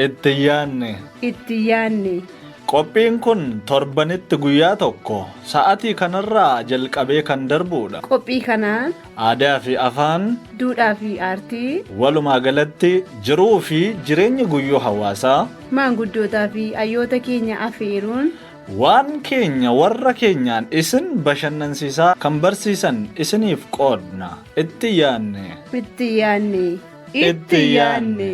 Itti yaanne. Itti yaanne. Qophiin kun torbanitti guyyaa tokko sa'atii kanarraa jalqabee kan darbuudha. Qophii kanaan. Aadaa fi afaan. Duudhaa fi aartii. Walumaa galatti jiruu fi jireenya guyyuu hawaasaa. Maanguddootaa fi hayyoota keenya afeeruun. Waan keenya warra keenyaan isin bashannansiisaa kan barsiisan isiniif qoodna. Itti yaanne. Itti yaanne. Itti yaanne.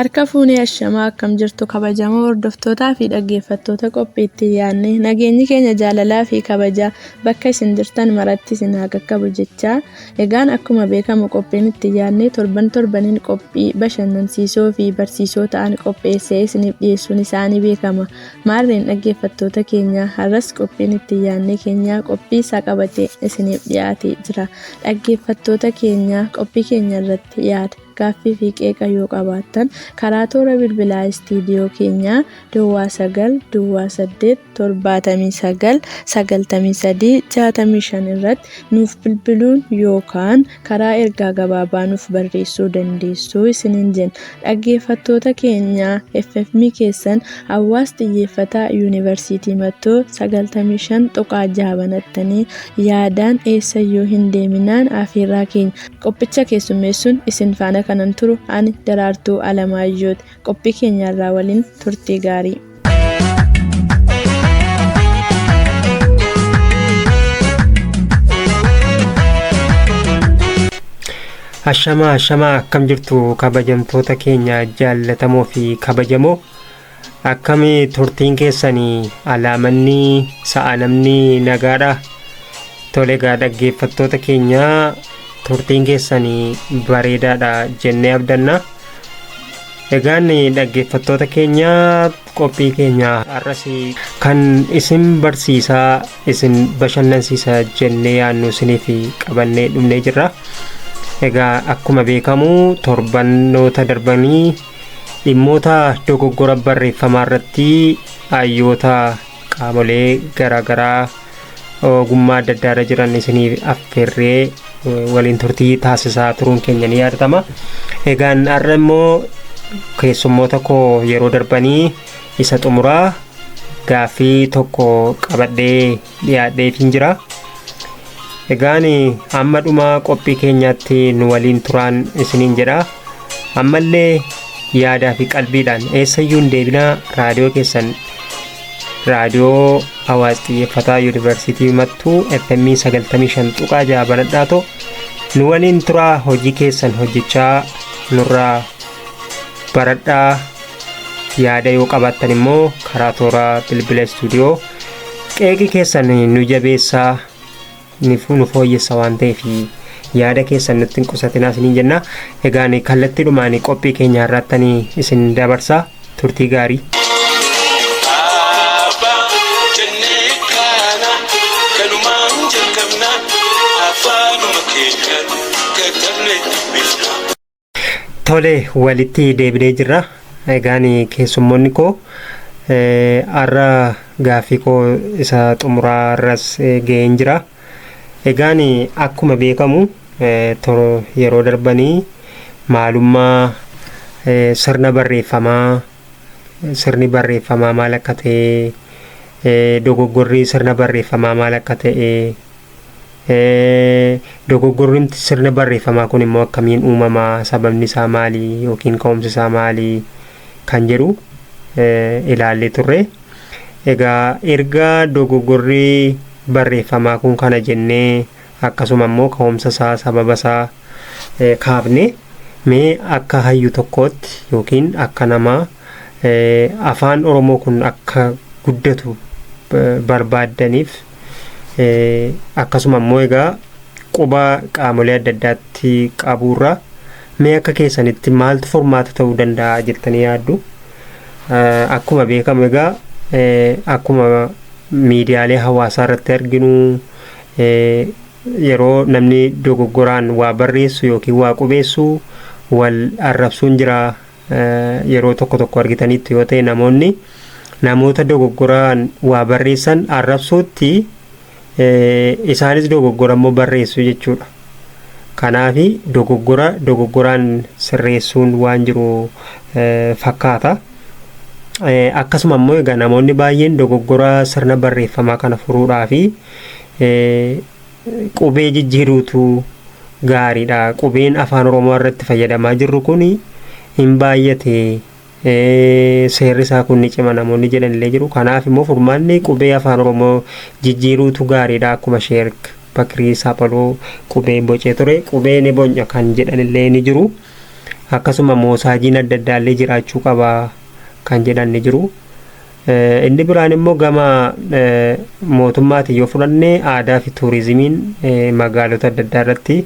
Harka fuunee ashamaa akkam jirtu kabajamoo hordoftootaa fi dhaggeeffattoota qophii itti yaanne nageenyi keenya jaalalaa fi kabajaa bakka isin jirtan maratti isin haa qaqqabu jechaa Egaan akkuma beekamu qophiin itti yaadnee torban torbaniin qophii bashannansiisoo fi barsiisoo ta'an qopheessee isiniif dhiyeessuun isaa ni beekama. Maarreen dhaggeeffattoota keenya har'as qophiin itti yaadnee keenyaa qophii isaa qabatee isiniif dhiyaatee jira. Dhaggeeffattoota keenya qophii keenya irratti yaada. Gaaffii fi qeeqa yoo qabaattan karaa toora bilbilaa istiidiyoo keenyaa Duwwaa 9 Duwwaa 8 79 93 65 irratti nuuf bilbiluun yookaan karaa ergaa gabaabaa nuuf barreessuu dandeessu isiniin jenna. Dhaggeeffattoota keenya FFM keessan Hawaas Xiyyeeffataa Yuunivarsiitii Mattoo 95.6 banattanii yaadaan eessayyuu hin deeminaan afeerraa keenya. Qophicha keessummeessuun isin faana kanan turu ani Daraartuu Alamaayyooti. Qophii keenya irraa waliin turtii gaarii. Ashamaa ashamaa akkam jirtu kabajamtoota keenya jaallatamoo fi kabajamoo Akkami turtiin keessani alaa manni sa'a namni nagaadha tole egaa dhaggeeffattoota keenya turtiin keessani bareedaadha jennee abdanna egaan dhaggeeffattoota keenya qophii keenya har'as kan isin barsiisaa isin bashannansiisa jennee yaannu isiniif qabannee dhumnee jirra egaa akkuma beekamu torbanoota darbanii Dhimmoota dogoggora barreeffamaa irratti hayyoota qaamolee garaa garaa ogummaa adda addaa irra jiran isiniif affeerree eh, waliin turtii taasisaa turuun keenya ni yaadatama. Egaan har'a immoo keessummoota koo yeroo darbanii isa xumuraa gaaffii tokko qabadhee dhiyaadheetiin jira. Egaan amma dhuma qophii keenyaatti nu waliin turaan isiniin jedha. Ammallee yaadaa fi qalbiidhaan eessayyuu hin deebinaa raadiyoo keessan raadiyoo hawaas xiyyeeffataa yuunivarsiitii mattuu FM 95.6 banadhaa ta'u nu waliin turaa hojii keessan hojjechaa nurraa baradhaa yaada yoo qabaattan immoo karaa toora bilbila istuudiyoo qeeqii keessan nu jabeessaa nu fooyyessa waan ta'eef yaada keessan nutti hin qusatinaa isiniin jenna egaan kallattiidhumaan qophii keenya irraattanii isin dabarsaa turtii gaarii. Afaan keenya katabne dubbifna. Tole walitti deebinee jirra. Egaan keessummoonni koo har'a gaaffii koo isa xumuraa irras ga'een jira. Egaan akkuma beekamu yeroo darbanii maalummaa sirna barreeffamaa sirni barreeffamaa maal akka ta'e dogoggorri sirna barreeffamaa maal akka ta'e Dogoggorrimti sirna barreeffamaa kun immoo akkamiin uumama sababni isaa maali yookiin ka'umsi isaa maali kan jedhu ilaallee turre. Egaa erga dogoggorri barreeffamaa kun kana jennee akkasuma immoo ka'umsa isaa sababa isaa kaafne mee akka hayyu tokkootti yookiin akka nama afaan Oromoo kun akka guddatu barbaaddaniif akkasuma immoo egaa quba qaamolee adda addaatti qabuurraa mee akka keessanitti maaltu furmaata ta'uu danda'a jettanii yaaddu akkuma beekamu egaa akkuma miidiyaalee hawaasaa irratti arginu yeroo namni dogoggoraan waa barreessu yookiin waa qubeessu wal arrabsuun jira yeroo tokko tokko argitaniittu yoo ta'e namoonni namoota dogoggoraan waa barreessan arrabsuutti isaanis dogoggora immoo barreessu jechuudha. Kanaaf dogoggora dogoggoraan sirreessuun waan jiru fakkaata. Akkasuma immoo egaa namoonni baay'een dogoggora sirna barreeffamaa kana furuudhaa fi Qubee jijjiiruutu gaariidha. Qubeen afaan oromoo irratti fayyadamaa jirru kun hin baay'ate seerri isaa kun ni cima namoonni jedhan illee jiru. Kanaaf immoo furmaanni qubee afaan oromoo jijjiiruutu gaariidha akkuma sheerk bakrii saphaloo qubee bocee ture qubee ni bonya kan jedhan illee ni jiru. Akkasuma moosaajiin adda addaa illee jiraachuu qaba kan jedhan ni jiru. Inni biraan immoo gama mootummaatiin yoo fudhanne aadaa fi tuurizimiin magaalota adda addaa irratti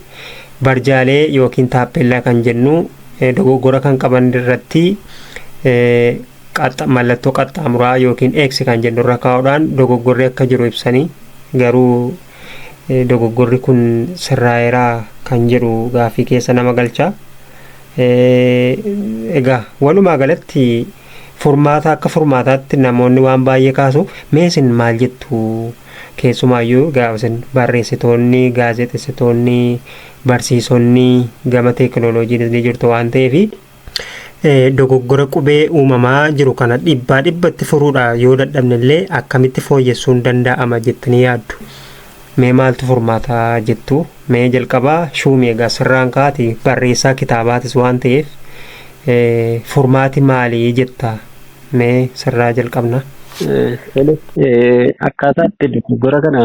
barjaalee yookiin taappeellaa kan jennu dogoggora kan qaban irratti mallattoo qaxxaamuraa yookiin eeksi kan jennu irra kaa'uudhaan dogoggorri akka jiru ibsanii garuu dogoggorri kun sirraa'eeraa kan jedhu gaaffii keessa nama galcha. Egaa walumaa galatti Furmaata akka furmaataatti namoonni waan baay'ee kaasu. Mee isin maal jettu? Keessumaayyuu egaa isin barreessitoonni, gaazexessitoonni, barsiisonni gama teekinooloojiinis ni jirtu waan ta'eefi dogoggora qubee uumamaa jiru kana dhibbaa dhibbatti furuudha yoo dadhabnellee akkamitti fooyyessuun danda'ama jettanii yaaddu? Mee maaltu furmaata jettu? Mee jalqaba shuumi egaa sirraan kaati barreessaa kitaabaatis waan ta'eef furmaati maali jetta? Mee sirraa jalqabna. Tole, akkaataa itti dogoggora kana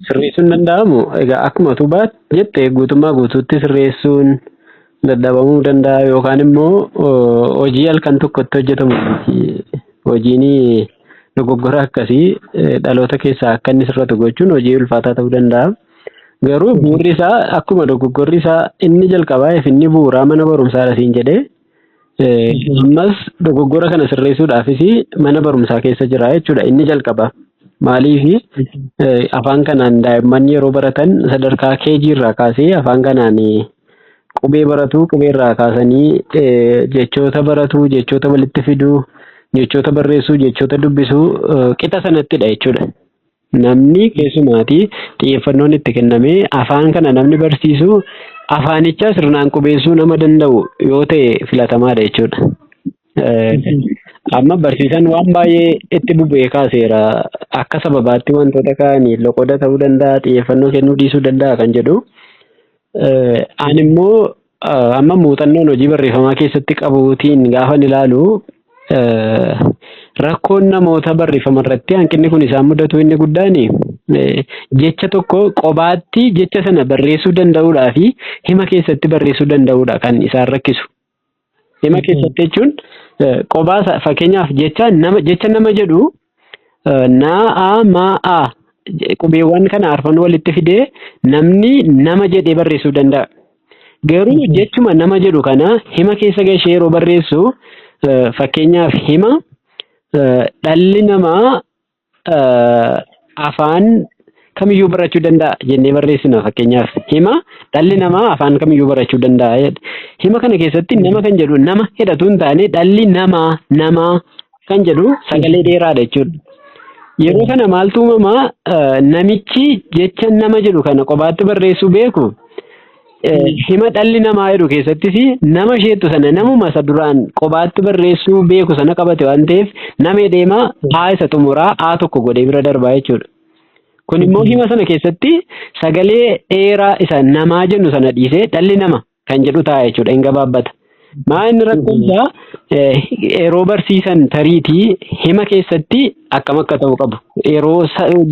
sirreessuun danda'amu egaa akkuma utuu baat jette guutummaa guutuutti sirreessuun dadhabamuu danda'a yookaan immoo hojii halkan tokkotti hojjetamu miti. Hojiin dogoggora akkasii dhaloota keessaa akka inni sirratu gochuun hojii ulfaataa ta'uu danda'a. Garuu bu'urri isaa akkuma dogoggorri isaa inni jalqabaa fi inni bu'uuraa mana barumsaadha siin jedhee Ammas dogoggora kana sirreessuudhaafis mana barumsaa keessa jira jechuudha. Inni jalqaba maaliif afaan kanaan daa'imman yeroo baratan sadarkaa KG irraa kaasee afaan kanaan qubee baratu qubee irraa kaasanii jechoota baratu jechoota walitti fiduu jechoota barreessuu jechoota dubbisuu qixa sanattidha jechuudha. Namni keessumaati xiyyeeffannoon itti kennamee afaan kana namni barsiisu afaanichaa sirnaan qubeessuu nama danda'u yoo ta'e filatamaadha jechuudha. Amma barsiisaan waan baay'ee itti bubee kaaseera. Akka sababaatti wantoota kaa'anii loqoda ta'uu danda'a, xiyyeeffannoo kennuu dhiisuu danda'a kan jedhu. Ani immoo Amma muuxannoon hojii barreeffamaa keessatti qabuutiin gaafan ilaalu rakkoon namoota barreeffama irratti hanqinni kun isaan mudatu inni guddaan jecha tokko qobaatti jecha sana barreessuu danda'uudhaa fi hima keessatti barreessuu danda'uudha kan isaan rakkisu. Hima keessatti jechuun qobaa fakkeenyaaf jecha nama jecha nama jedhu Na, a, ma, a qubeewwan kana arfan walitti fidee namni nama jedhee barreessuu danda'a. Garuu jechuma nama jedhu kana hima keessa gashee yeroo barreessu fakkeenyaaf hima dhalli namaa afaan kamiyyuu barachuu danda'a jennee barreessina fakkeenyaaf hima dhalli namaa afaan kamiyyuu barachuu danda'a jedha. Hima kana keessatti nama kan jedhu nama hidhatu hin taane dhalli namaa namaa kan jedhu sagalee dheeraadha jechuudha. Yeroo kana maaltu uumama eh, namichi jecha nama jedhu kana qofaatti barreessuu beeku eh, hima dhalli namaa jedhu keessattis nama isheettu sana namuma isa duraan qofaatti barreessuu beeku sana qabate waan ta'eef namee deemaa haa isa xumuraa haa tokko godhee bira darbaa jechuudha. Kun immoo hima sana keessatti sagalee dheeraa isa namaa jennu sana dhiisee dhalli nama kan jedhu ta'a jechuudha. Hin gabaabbata. Maa inni rakkoon isaa yeroo barsiisan tariitii hima keessatti akkam akka ta'u qabu. Yeroo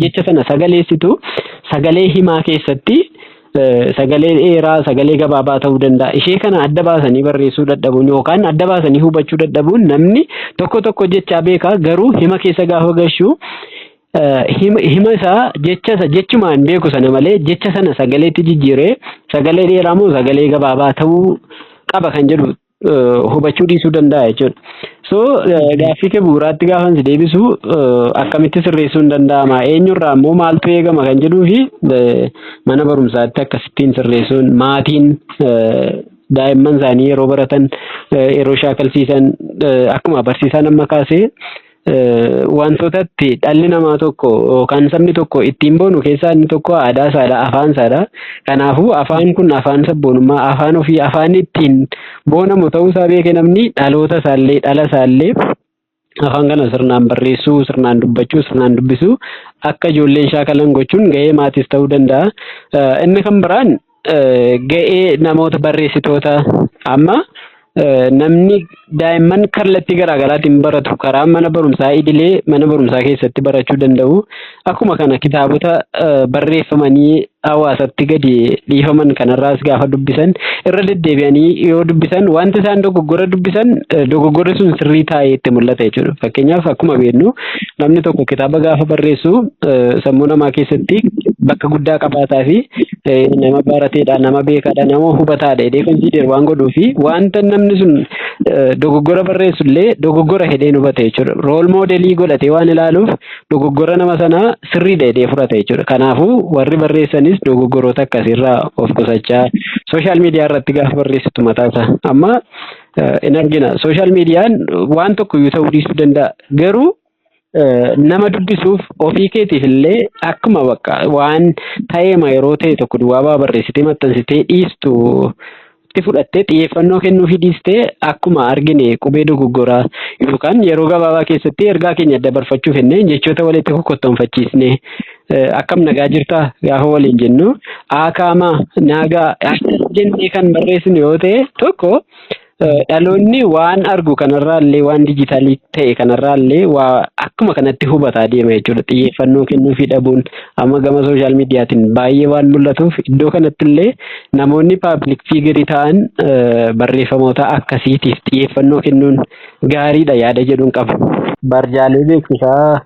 jecha sana sagaleessitu sagalee himaa keessatti sagalee dheeraa sagalee gabaabaa ta'uu danda'a. Ishee kana adda baasanii barreessuu dadhabuun yookaan adda baasanii hubachuu dadhabuun namni tokko tokko jechaa beekaa garuu hima keessa gaafa gashuu hima isaa jecha isa jechuma hin beeku sana malee jecha sana sagaleetti jijjiiree sagalee dheeraa moo sagalee gabaabaa ta'uu qaba kan jedhu hubachuu dhiisuu danda'a jechuudha. So gaaffii kee bu'uuraatti gaafan si deebisu akkamitti sirreessuun danda'ama eenyurraa immoo maaltu eegama kan jedhuu fi mana barumsaatti akkasittiin sirreessuun maatiin daa'imman isaanii yeroo baratan yeroo shaakalsiisan akkuma barsiisaan amma kaasee Wantoota itti dhalli namaa tokko yookaan sabni tokko ittiin boonu keessaa inni tokko aadaa isaadha, afaan isaadha. Kanaafuu afaan kun afaan sabboonummaa, afaan ofii, afaan ittiin boonamu ta'uu isaa beekee namni dhaloota isaallee, dhala isaallee afaan kana sirnaan barreessuu, sirnaan dubbachuu, sirnaan dubbisuu akka ijoolleen shaakalan gochuun gahee maatiis ta'uu danda'a. Inni kan biraan ga'ee namoota barreessitoota amma namni daa'imman kallattii garaa garaatiin baratu karaa mana barumsaa idilee mana barumsaa keessatti barachuu danda'u. Akkuma kana kitaabota barreeffamanii hawaasatti gadi dhiifaman kanarraas gaafa dubbisan irra deddeebi'anii yoo dubbisan wanti isaan dogoggora dubbisan dogoggorri sun sirrii taa'ee itti mul'ata jechuudha. Fakkeenyaaf akkuma beeknu Namni tokko kitaaba gaafa barreessu sammuu namaa keessatti bakka guddaa qabaataa fi nama barateedha, nama beekaadha, nama hubataadha jedhee konsiider waan godhuu fi wanta namni sun dogoggora barreessu illee dogoggora jedhee hin hubate jechuudha. Rool moodelii godhatee waan ilaaluuf dogoggora nama sanaa sirriidha jedhee fudhata jechuudha. Kanaafuu warri barreessanis dogoggoroota akkasiirraa of qusachaa sooshaal miidiyaa irratti gaafa barreessitu mataasaa amma hin argina. Sooshaal miidiyaan waan tokko iyyuu ta'uu dhiisuu danda'a. Garuu nama dubbisuuf ofii keetiif illee akkuma bakka waan ta'eema yeroo ta'e tokko duwwaa baa barreessitee maxxansitee dhiistu itti fudhattee xiyyeeffannoo kennuufii dhiistee akkuma argine qubee dogoggoraa yookaan yeroo gabaabaa keessatti ergaa keenya dabarfachuu fennee jechoota walitti kokkottoonfachiisnee akkam nagaa jirtaa gaafa waliin jennu aakaamaa naagaa akkas jennee kan barreessinu yoo ta'e tokko dhaloonni waan argu kanarraa illee waan dijitaalii ta'e kanarraa illee waa akkuma kanatti hubataa deema jechuudha xiyyeeffannoo kennuufii dhabuun amma gama sooshaal miidiyaatiin baay'ee waan mul'atuuf iddoo kanatti illee namoonni paabilik fiigirii ta'an barreeffamoota akkasiitiif xiyyeeffannoo kennuun gaariidha yaada jedhuun qabu. Barjaalee beeksisaa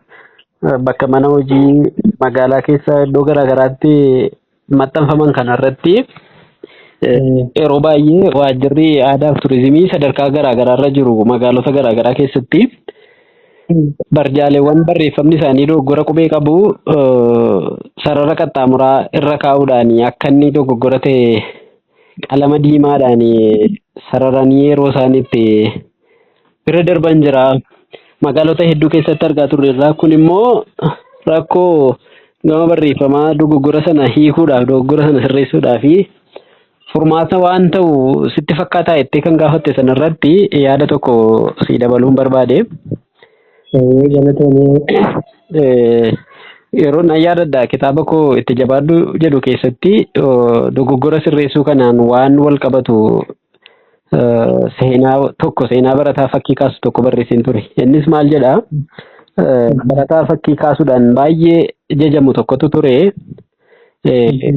bakka mana hojii magaalaa keessa iddoo garaagaraatti maxxanfaman kanarratti yeroo baay'ee waajjirri aadaa fi turizimii sadarkaa garaagaraarra jiru magaalota garaagaraa keessatti barjaaleewwan barreeffamni isaanii dogoggora qubee qabu sarara qaxxaamuraa irra kaa'uudhaan akka inni dogoggora ta'e qalama diimaadhaan sararanii yeroo isaan itti bira darban jira. Magaalota hedduu keessatti argaa turreerra. Kun immoo rakkoo gama barreeffamaa dogoggora sana hiikuudhaaf, dogoggora sana sirreessuudhaaf furmaata waan ta'u sitti fakkaataa jettee kan gaafatte sana irratti yaada tokko sii dabaluun barbaade. Ee, galatoomii. Eh, Yeroo nan yaadadha kitaaba koo itti jabaadhu jedhu keessatti oh, dogoggora sirreessuu kanaan waan wal qabatu seenaa tokko seenaa barataa fakkii kaasu tokko barreesseen ture. Innis maal jedha? Barataa fakkii kaasuudhaan baay'ee jajamu tokkotu ture.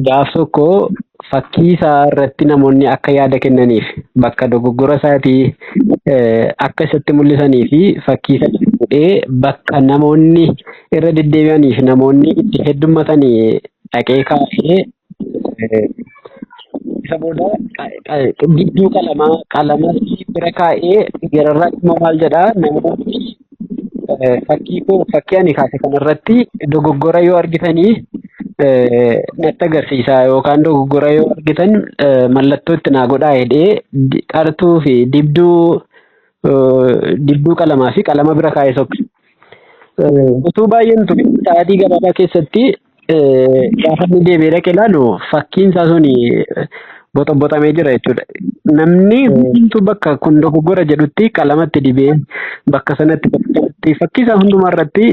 Gaaf tokko fakkii isaa irratti namoonni akka yaada kennaniif bakka dogoggora isaatii akka isatti mul'isanii fi fakkii isaa fuudhee bakka namoonni irra deddeebi'anii fi namoonni itti heddummatanii dhaqee kaasee Eh, Isa booda qa- qa- gidduu qalamaa qalamas bira kaa'ee gararraa immoo maal jedhaa namoonni eh, fakkii koo fakkii ani kaase kanarratti dogoggora yoo argitanii eh, natti agarsiisaa yookaan dogoggora yoo argitan eh, mallattoo itti naa godhaa jedhee di- qartuu fi dibduu eh, dibduu qalamaa fi qalama bira kaa'ee sokke. Eh, Utuu baay'een ture sa'aatii gabaabaa keessatti Eh, gaafa inni deebi'ee dhaqe ilaalu fakkiin isaa sun boxoboxamee jira jechuudha. Namni Eh, hundumtuu bakka kun dogoggora jedhutti qalamatti dibee bakka sanatti bakka kanatti fakkii isaa hundumaa irratti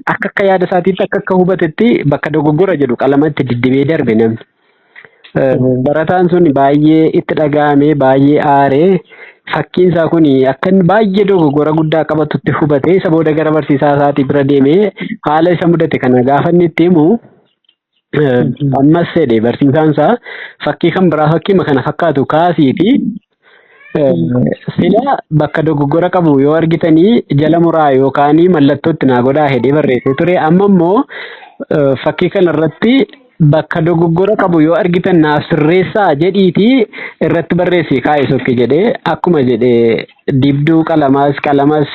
akka akka yaada isaatiitti akka akka hubatetti bakka dogoggora jedhu qalamatti diddibee darbe namni. Barataan sun baay'ee itti dhaga'amee baay'ee aaree fakkiin isaa kun akka inni baay'ee dogoggora guddaa qabatutti hubatee isa booda gara barsiisaa isaatii bira deemee haala isa mudate kana gaafa inni itti himu ammas jedhe barsiisaan isaa fakkii kan biraa fakkiima kana fakkaatu kaasiiti Sila bakka dogoggora qabu yoo argitanii jala muraa yookaan mallattootti naa godhaa jedhee barreessee ture. Amma immoo eh, fakkii kana irratti bakka dogoggora qabu yoo argitan naaf sirreessaa jedhiitii irratti barreessii kaa'e sokki jedhee akkuma jedhe dibduu qalamaas qalamas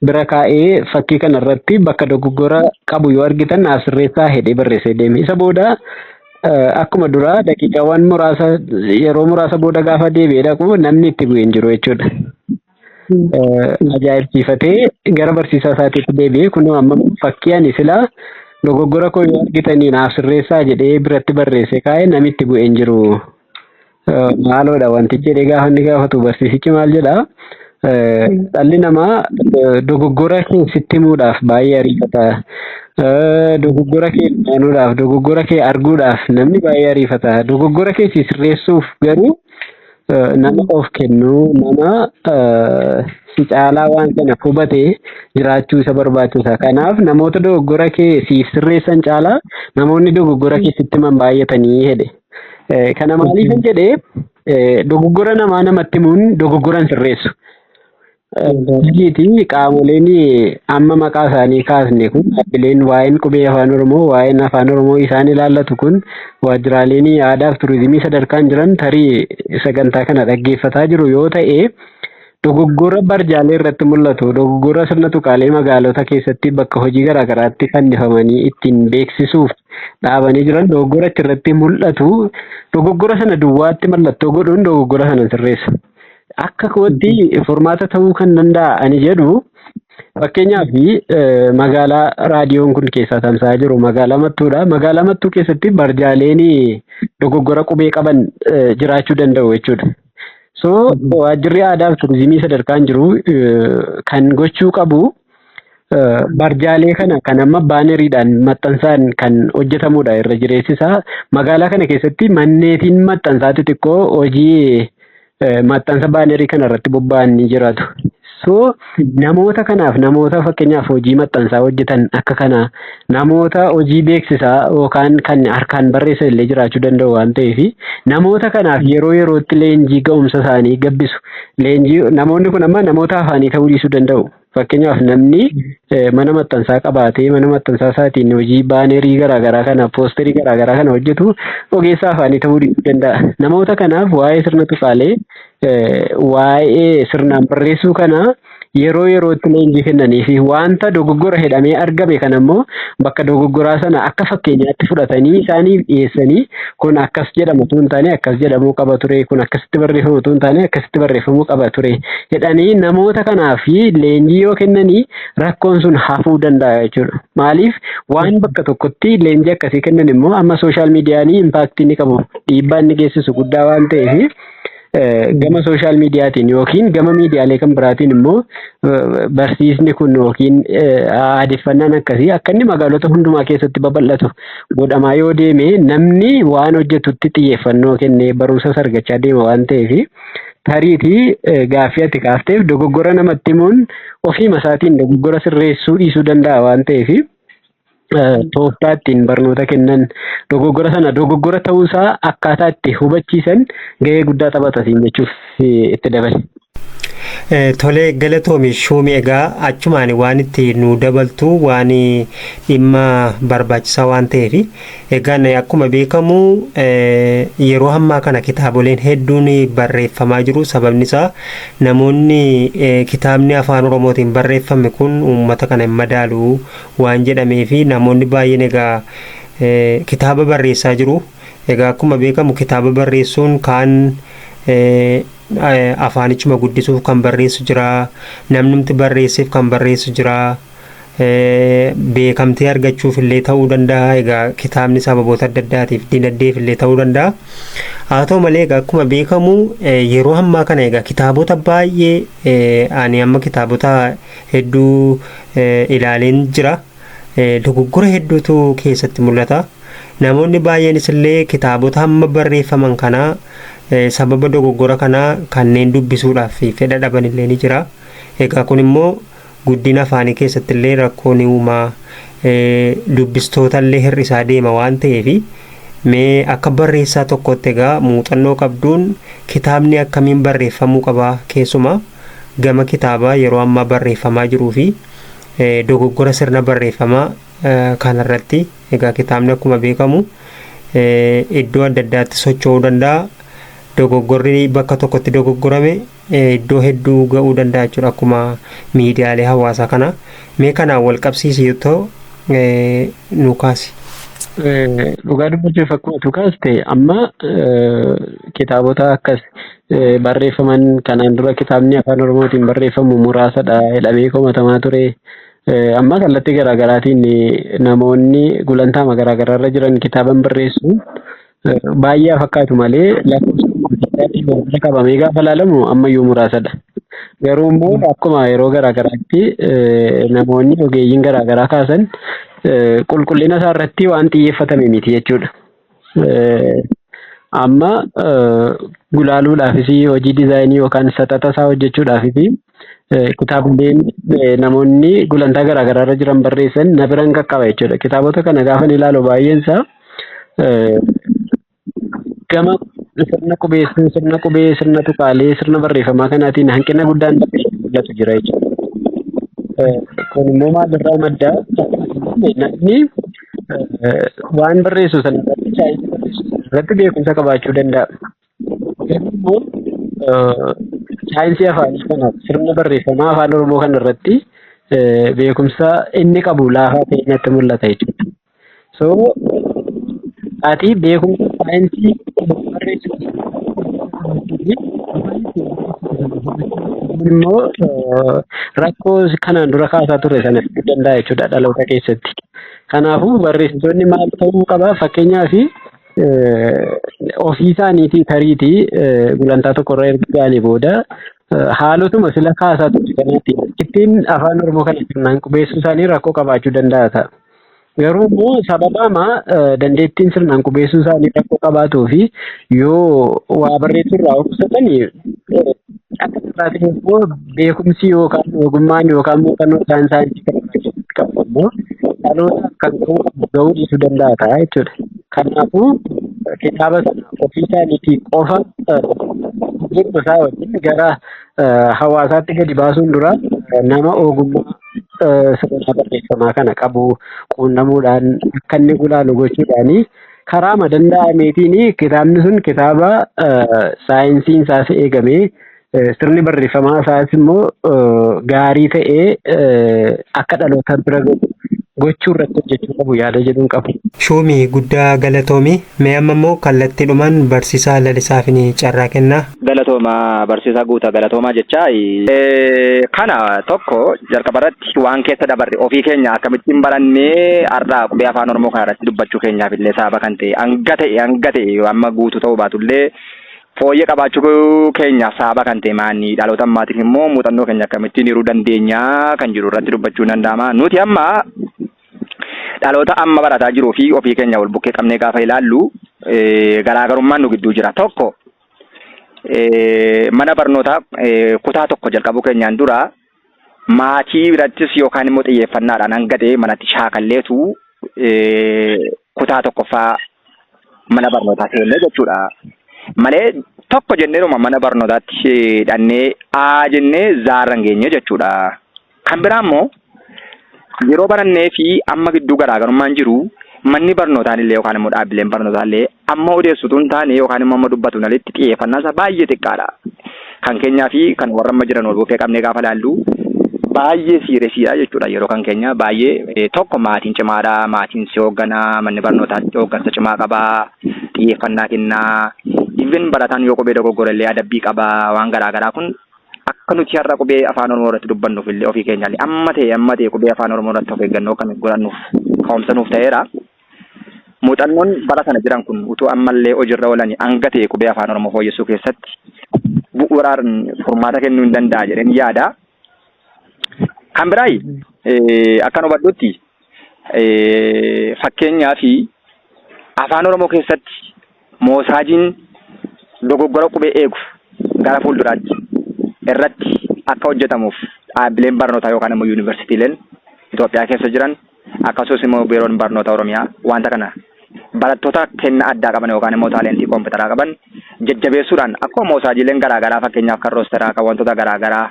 bira kaa'ee fakkii kana irratti bakka dogoggora qabu yoo argitan naaf sirreessaa jedhee barreessee deeme. Isa booda Akkuma duraa daqiiqaawwan muraasa yeroo muraasa booda gaafa deebi'ee dhaqu namni itti bu'e hin jiru jechuudha. Ajaa'ibsiifatee gara barsiisaa isaatiitti deebi'ee kunoo amma fakkii ani silaa dogoggora koo yoo argitanii naaf sirreessaa jedhee biratti barreessee kaa'e namni itti bu'e hin jiru Maaloodha wantichi jedhee gaafa inni gaafatu barsiisichi maal jedha? Dhalli namaa dogoggora kee sitti himuudhaaf baay'ee ariifata. Dogoggora kee aanuudhaaf, dogoggora kee arguudhaaf namni baay'ee ariifata. Dogoggora kee si sirreessuuf garuu nama of kennu, nama si caalaa waan kana hubate jiraachuu isa barbaachisa. Kanaaf namoota dogoggora kee siif sirreessan caalaa namoonni dogoggora kee sitti himan baay'atanii jedhe. Kana maaliifan jedhe dogoggora namaa namatti himuun dogoggora hin sirreessu. Hojiiti qaamoleen amma maqaa isaanii kaasne kun dhaabbileen waa'een qubee afaan Oromoo waa'een afaan Oromoo isaan ilaallatu kun waajjiraaleen aadaaf turizimii sadarkaan jiran tarii sagantaa kana dhaggeeffataa jiru yoo ta'e Dogoggora barjaalee irratti mul'atu, dogoggora sirna tuqaalee magaalota keessatti bakka hojii garaa garaatti fannifamanii ittiin beeksisuuf dhaabanii jiran dogoggora achirratti mul'atu dogoggora sana duwwaatti mallattoo godhuun dogoggora sana sirreessa. Akka kootti furmaata ta'uu kan danda'a ani jedhu Fakkeenyaaf magaalaa raadiyoon kun keessaa tamsa'aa jiru magaalaa Mattuudha. Magaalaa Mattuu keessatti barjaaleen dogoggora qubee qaban jiraachuu danda'u jechuudha. So waajjirri aadaa fi turizimii sadarkaan jiru kan gochuu qabu barjaalee kana kan amma baaneriidhaan maxxansaan kan hojjetamudha irra jireessisaa. Magaalaa kana keessatti manneetiin maxxansaa xixiqqoo hojii maxxansa baanerii kana irratti bobba'an ni jiraatu. So namoota kanaaf namoota fakkeenyaaf hojii maxxansaa hojjetan akka kanaa namoota hojii beeksisaa yookaan kan harkaan barreessan illee jiraachuu danda'u waan ta'eef namoota kanaaf yeroo yerootti leenjii ga'umsa isaanii gabbisu. Leenjii namoonni kun amma namoota afaanii ta'uu dhiisuu danda'u. Fakkeenyaaf namni mana maxxansaa qabaatee mana maxxansaa isaatiin hojii baanerii garaagaraa kana poosterii garaagaraa kana hojjetu ogeessa afaanii ta'uu dhiisuu danda'a. Namoota kanaaf waa'ee sirna tuqaalee waa'ee sirnaan barreessuu kana yeroo yerootti leenjii kennanii fi wanta dogoggora jedhamee argame kana immoo bakka dogoggoraa sana akka fakkeenyaatti fudhatanii isaaniif dhiyeessanii kun akkas jedhama utuu hin taane akkas jedhamuu qaba ture kun akkasitti barreeffamu utuu hin taane akkasitti barreeffamuu qaba ture jedhanii namoota kanaa fi leenjii yoo kennanii rakkoon sun hafuu danda'a jechuudha. Maaliif waan bakka tokkotti leenjii akkasii kennan immoo amma sooshaal miidiyaanii impaaktii ni qabu dhiibbaa inni geessisu guddaa waan ta'eef gama sooshaal miidiyaatiin yookiin gama miidiyaalee kan biraatiin immoo barsiisni kun yookiin aadeffannaan akkasii akka inni magaalota hundumaa keessatti babal'atu godhamaa yoo deeme namni waan hojjetutti xiyyeeffannoo kennee barumsa sargachaa deema waan ta'eef tariitii gaaffii ati kaafteef dogoggora namatti himuun ofiima isaatiin dogoggora sirreessuu dhiisuu danda'a waan ta'eef tooftaa ittiin barnoota kennan dogoggora sana dogoggora ta'uusaa akkaataa itti hubachiisan gahee guddaa taphata siin jechuuf itti dabale. Tolee galatoomi shuumi egaa achumaan waan itti nu dabaltu waan dhimma barbaachisaa waan ta'eef egaan akkuma beekamu yeroo hammaa kana kitaaboleen hedduun barreeffamaa jiru sababni isaa namoonni kitaabni afaan oromootiin barreeffame kun uummata kana hin madaalu waan jedhamee fi namoonni baay'een egaa kitaaba barreessaa jiru. Egaa akkuma beekamu kitaaba barreessuun kaan afaanichuma guddisuuf kan barreessu jira. Namnumti barreesseef kan barreessu jira. Beekamtii argachuuf illee ta'uu danda'a. Egaa kitaabni sababoota adda addaatiif dinagdeef illee ta'uu danda'a. Haa ta'u malee egaa akkuma beekamu yeroo ammaa kana egaa kitaabota baay'ee ani amma kitaabota hedduu ilaaleen jira. Dogoggora hedduutu keessatti mul'ata. Namoonni baay'eenis illee kitaabota hamma barreeffaman kanaa sababa dogoggora kanaa kanneen dubbisuudhaaf fedha dhaban illee ni jira. Egaa kun immoo guddina afaanii keessatti illee rakkoo ni uuma. Dubbistoota illee hir'isaa deema waan ta'eef mee akka barreessaa tokkootti egaa muuxannoo qabduun kitaabni akkamiin barreeffamuu qaba keessumaa gama kitaabaa yeroo ammaa barreeffamaa jiruu fi dogoggora sirna barreeffamaa kanarratti egaa kitaabni akkuma beekamu iddoo adda addaatti socho'uu danda'a. Dogoggorri bakka tokkotti dogoggorame iddoo hedduu ga'uu danda'a jechuudha akkuma miidiyaalee hawaasaa kana. Mee kanaan wal qabsiisii too nu kaasi. Dhugaa dubbachuuf akkuma tu kaaste amma kitaabota akkas barreeffaman kanaan dura kitaabni afaan oromootiin barreeffamu muraasadha jedhamee komatamaa ture. Amma kallattii garaagaraatiin namoonni gulantaama garaagaraarra jiran kitaaban barreessu baay'ee fakkaatu malee lakkoofsaatiin wal bira qabamee gaafa ilaalamu ammayyuu muraasadha. Garuu immoo akkuma yeroo garaagaraatti namoonni ogeeyyiin garaagaraa kaasan qulqullina isaa irratti waan xiyyeeffatame miti jechuudha. Amma gulaaluudhaafis hojii dizaayinii yookaan saxaxa isaa hojjechuudhaafis kitaabileen namoonni gulantaa garaa garaa irra jiran barreessan na biran qaqqaba jechuudha. Kitaabota kana gaafa ni ilaalu baay'een isaa gama sirna qubeessuu, sirna qubee, sirna tuqaalee, sirna barreeffamaa kanaatiin hanqina guddaan mul'atu jira jechuudha. Kun immoo maalirraa madda? Namni eh, waan barreessu sana irratti chaayinii barreessu sana irratti beekumsa qabaachuu danda'a. Garuu immoo eh, saayinsii afaanii kana sirna barreeffamaa afaan Oromoo kana irratti eh, beekumsa inni qabu laafaa ta'e natti mul'ata jechuudha. So ati beekumsa saayinsii barreessu immoo eh, rakkoo kanaan dura kaasaa ture sana fiduu danda'a jechuudha dhaloota keessatti. Kanaafuu barreessitoonni maal ta'uu qaba? Fakkeenyaaf ofii isaaniitii tariitii gulantaa tokko irra erga ga'anii booda haalotuma sila kaasaa ture kanatti ittiin afaan Oromoo kana sirnaan qubeessuu isaanii rakkoo qabaachuu danda'a ta'a. Garuu immoo sababaama dandeettiin sirnaan qubeessuu isaanii rakkoo qabaatuu fi yoo waa barreessuu irraa of qusatan Akka carraatiin immoo beekumsi yookaan ogummaan yookaan muuxannoo isaan saayinsii kana irratti qaban immoo dhalootaaf kan ga'uu qabu ga'uu dhiisuu danda'a ta'a jechuudha. Kanaafuu kitaaba sana ofii isaaniitii qofa beekuma isaa wajjin gara hawaasaatti gadi baasuun dura nama ogummaa sirnaa barreeffamaa kana qabu quunnamuudhaan akka inni gulaalu gochuudhaanii Karaama danda'ameetiin kitaabni sun kitaaba saayinsiin isaas eegamee sirni barreeffamaa isaas immoo gaarii ta'ee akka dhaloota bira gahu gochuu irratti hojjechuu qabu yaada jedhuun qabu. Shuumi guddaa galatoomi. Mee amma immoo kallattiidhumaan barsiisaa Lalisaafini carraa kennaa. Galatooma barsiisaa Guuta galatoomaa jechaa. Kana tokko jalqaba irratti waan keessa dabarre ofii keenya akkamittiin barannee har'a qubee afaan oromoo kana irratti dubbachuu keenyaaf illee sababa kan ta'e hanga ta'e hanga ta'e amma guutuu ta'uu baatu illee fooyyee qabaachuu keenyaaf sababa kan ta'e maanni dhaloota ammaatiif immoo muuxannoo keenya akkamittiin hiruu dandeenya kan jiru irratti dubbachuu danda'ama nuti amma dhaloota amma barataa jiruu fi ofii keenya wal bukkee qabnee gaafa ilaallu garaagarummaan nu gidduu jira tokko Mana barnootaa kutaa tokko jalqabuu keenyaan dura maatii birattis yookaan immoo xiyyeeffannaadhaan hanga ta'e manatti shaakalleetu kutaa tokkoffaa mana barnootaa seenne jechuudha. Malee tokko jenneeruma mana barnootaatti hidhannee A jennee zaarra hin geenye jechuudha. Kan biraa immoo yeroo barannee fi amma gidduu garaagarummaan jiru manni barnootaan illee yookaan immoo dhaabbileen barnootaa illee amma odeessutu hin taane yookaan immoo amma dubbatu hin alitti xiyyeeffannaa isaa baay'ee xiqqaadha. Kan keenyaa fi kan warra amma jiran wal bukkee qabnee gaafa ilaallu baay'ee siiresiidha jechuudha yeroo kan keenya baay'ee tokko maatiin cimaadha maatiin si hoogganaa manni barnootaa hooggansa cimaa qabaa xiyyeeffannaa kennaa even barataan yoo qubee dogoggorellee adabbii qabaa waan garaagaraa kun Akka nuti har'a qubee afaan Oromoo irratti dubbannuuf illee ofii keenyaallee amma ta'e amma ta'e qubee afaan Oromoo irratti of eeggannoo akka nuuf godhannuuf ka'umsa nuuf ta'eera. Muuxannoon bara sana jiran kun utuu ammallee hojiirra oolanii hanga ta'e qubee afaan Oromoo fooyyessuu keessatti bu'uuraan furmaata kennuu hin danda'a jedheen yaada. Kan biraay akkan hubadhutti fakkeenyaa fi afaan Oromoo keessatti Moosaajiin dogoggora qubee eegu gara fuulduraatti irratti akka hojjetamuuf dhaabbileen barnootaa yookaan immoo yuunivarsiitiileen Itoophiyaa keessa jiran akkasumas immoo biiroon barnoota Oromiyaa wanta kana barattoota kenna addaa qaban yookaan immoo taaleentii koompitaraa qaban jajjabeessuudhaan akkuma moosaajiileen garaagaraa fakkeenyaaf kan roosteraa kan wantoota garaagaraa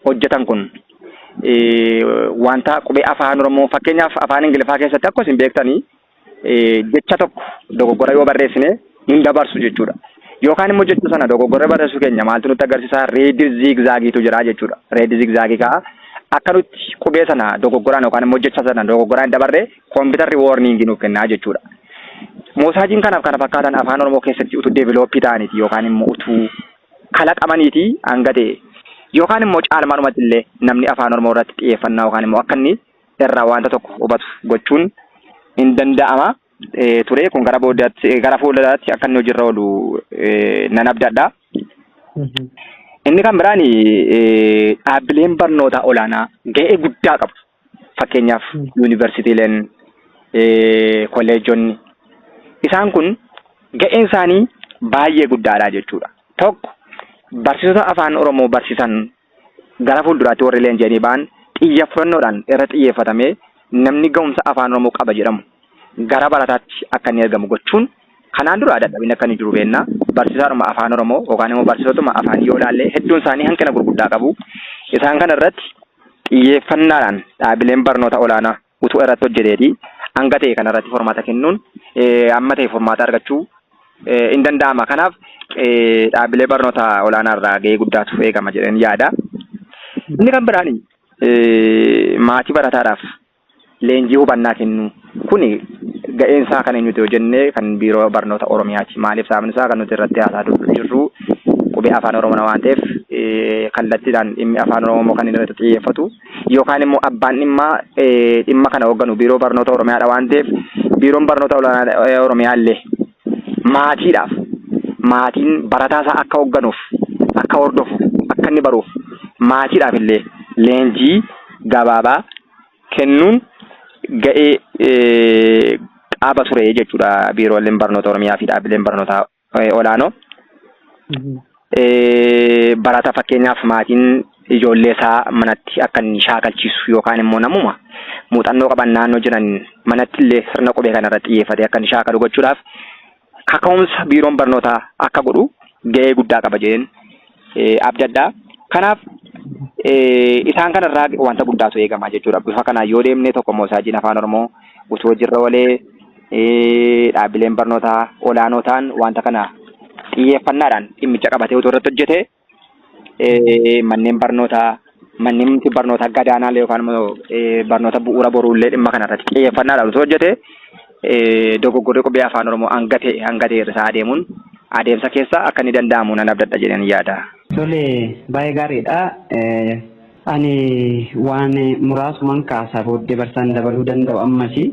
hojjetan kun wanta qubee afaan Oromoo fakkeenyaaf afaan Ingiliffaa keessatti akkuma isin beektanii jecha tokko dogoggora yoo barreessine hin dabarsu jechuudha. Yookaan immoo jecha sana dogoggora barreessuu keenya maaltu nutti agarsiisa? Reed ziigzaagiitu jira jechuudha. Reed ziigzaagii ka'a. Akka nutti qubee sana dogoggoraan yookaan immoo jecha sana dogoggoraan hin dabarre kompiitarri woorniingii nuuf kennaa jechuudha. Moosaajiin kanaaf kana fakkaatan afaan Oromoo keessatti utuu deevilooppii ta'aniiti yookaan immoo utuu kalaqamaniiti hanga ta'e yookaan immoo caalmaadhumatti illee namni afaan Oromoo irratti xiyyeeffannaa yookaan immoo akka inni irraa wanta tokko hubatu gochuun hin danda'ama ture. Kun gara boodaatti gara fuulduraatti akka inni hojiirra oolu nan abdadha. Inni kan biraan dhaabbileen barnootaa olaanaa ga'ee guddaa qabu. Fakkeenyaaf yuunivarsiitiileen, kolleejonni isaan kun ga'een isaanii baay'ee guddaadha jechuudha. Tokko barsiisota afaan Oromoo barsiisan Gara fuulduraatti warri leenji'anii ba'an xiyyeeffannoodhaan irra xiyyeeffatamee namni ga'umsa Afaan Oromoo qaba jedhamu gara barataatti akka inni ergamu gochuun kanaan dura dadhabinni akka inni jiru beekna. Barsiisaadhuma Afaan Oromoo yookaan immoo barsiisotuma afaanii yoo ilaalle hedduun isaanii hanqina gurguddaa qabu. Isaan kana irratti xiyyeeffannaadhaan dhaabileen barnoota olaanaa utuu irratti hojjeteeti hanga ta'e kana irratti furmaata kennuun amma ta'e furmaata argachuu hin danda'ama. Kanaaf dhaabbilee barnoota olaanaa irraa gahee guddaatu eegama jedheen yaada. Inni kan biraan maatii barataadhaaf leenjii hubannaa kennuu kuni ga'een isaa kan eenyuti yoo jenne kan biiroo barnoota Oromiyaati. Maaliif sababni isaa kan nuti irratti haasaa jirru qubee afaan Oromoo waan ta'eef kallattiidhaan dhimmi afaan Oromoo kan inni irratti xiyyeeffatu yookaan immoo abbaan dhimmaa dhimma kana hoogganu biiroo barnoota Oromiyaadha waan ta'eef biiroon barnoota olaanaa Oromiyaa illee maatiidhaaf maatiin barataa isaa akka hoogganuuf akka hordofu akka inni baruuf maatiidhaaf illee leenjii gabaabaa kennuun ga'ee qaba ture jechuudha biirooleen barnoota Oromiyaa fi dhaabbileen barnootaa eh, olaanoo Mhm. eh, barataa fakkeenyaaf maatiin ijoollee isaa manatti akka inni shaakalchiisu yookaan immoo namuma muuxannoo qaban naannoo jiran manatti illee sirna qubee kana irratti xiyyeeffatee akka inni shaakalu gochuudhaaf kaka'umsa biiroon barnootaa akka godhu ga'ee guddaa qaba jedheen abdadha. Kanaaf isaan kanarraa wanta guddaatu eegama jechuudha. Bifa kanaan yoo deemne tokko moosaajiin afaan Oromoo utuu hojiirra oolee dhaabbileen barnootaa olaanoo ta'an wanta kana xiyyeeffannaadhaan dhimmicha qabatee utuu irratti hojjete manneen barnootaa Mannimti barnoota gadaanaallee yookaan immoo barnoota bu'uura boruullee dhimma kanarratti xiyyeeffannaadhaan osoo hojjete dogoggorri qubee afaan Oromoo hanga ta'e hanga ta'e irra isaa adeemuun adeemsa keessa akka inni danda'amu nan abdadha jedheen yaada. Tole baay'ee gaariidha. Ani waan muraasuman kaasa booddee barsaan dabaluu danda'u ammasi.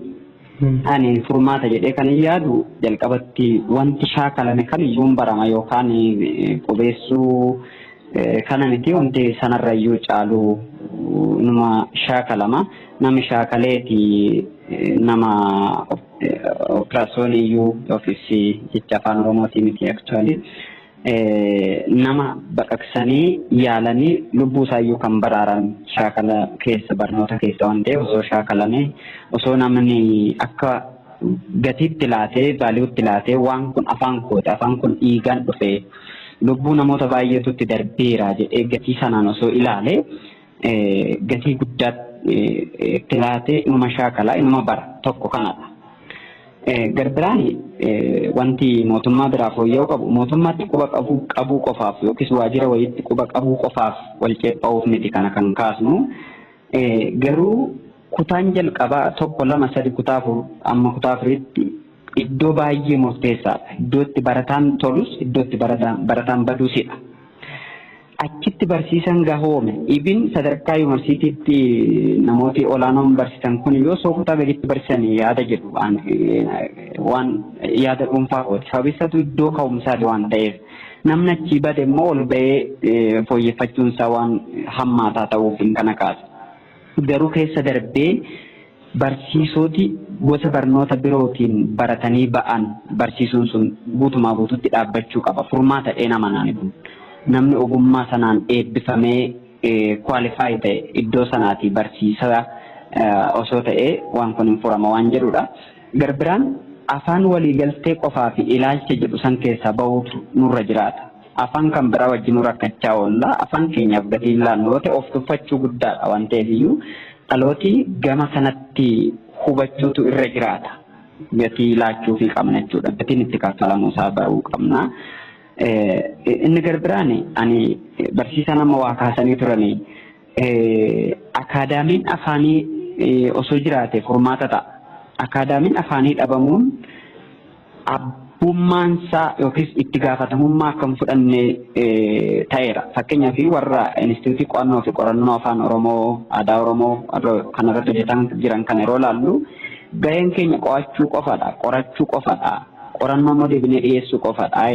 Ani furmaata jedhee kanin yaadu jalqabatti wanti shaakalame kamiyyuu hin barama yookaan qubeessuu kana miti wanti sanarrayyuu caalu numa shaakalama. Namni shaakaleeti nama operaasyooniiyyuu yookiis jecha afaan oromootii miti actually. nama baqaqsanii yaalanii lubbuu isaayyuu kan baraaran shaakala keessa barnoota keessa waan ta'eef osoo shaakalame osoo namni akka gatiitti laatee vaaliiwutti laatee waan kun afaan kooti afaan kun dhiigaan dhufee lubbuu namoota baay'eetutti darbeera jedhee gatii sanaan osoo ilaale gatii guddaa itti laatee inuma shaakala inuma bara tokko kanadha. Garbiraan wanti mootummaa biraa fooyya'uu qabu mootummaatti quba qabuu qofaaf yookiis waajjira wayiitti quba qabuu qofaaf wal ceepha'uuf miti kana kan kaasnu garuu kutaan jalqabaa tokko lama sadi kutaa afur amma kutaa afuriitti iddoo baay'ee murteessaadha. Iddoo itti barataan tolus iddoo itti barataan baduusidha. Achitti barsiisan gahoome. Ibin sadarkaa yuunivarsiitiitti namooti olaanoon barsiisan kun yoo soo kutaa gaditti barsiisan yaada jedhu waan waan yaada dhuunfaa kooti. Sababi isaatu iddoo ka'umsaati waan ta'eef namni achii bade immoo ol ba'ee fooyyeffachuun isaa waan hammaataa ta'uuf kana kaasa. Garuu keessa darbee Barsiisoti gosa barnoota birootiin baratanii ba'an barsiisuun sun guutumaa guututti dhaabbachuu qaba furmaata jedheen amana ani kun. Namni ogummaa sanaan eebbifamee qualify ta'e iddoo sanaatii barsiisaa osoo ta'ee waan kun hin furama waan jedhuudha. Garbiraan afaan waliigaltee qofaa fi ilaalcha jedhu san keessaa bahuutu nurra jiraata. Afaan kan biraa wajjinuu rakkachaa oolla. Afaan keenyaaf gatii hin laannu yoo ta'e of tuffachuu guddaadha. Waan ta'eef iyyuu dhalooti gama kanatti hubachuutu irra jiraata. Gatii laachuufii qabna jechuudha. Gatiin itti kaffalamuu isaa baruu qabna. Inni garbiraan ani barsiisaan amma waa kaasanii turani akaadaamiin afaanii osoo jiraate furmaata ta'a. Akaadaamiin afaanii dhabamuun abbummaan isaa yookiis itti gaafatamummaa akka hin fudhanne ta'eera. Fakkeenyaaf warra Inistituutii Qo'annoo fi Qorannoo Afaan Oromoo, Aadaa Oromoo kan irratti hojjetan jiran kana yeroo ilaallu gaheen keenya qo'achuu qofadha, qorachuu qofadha, qorannoo immoo deebinee dhiyeessuu qofadha.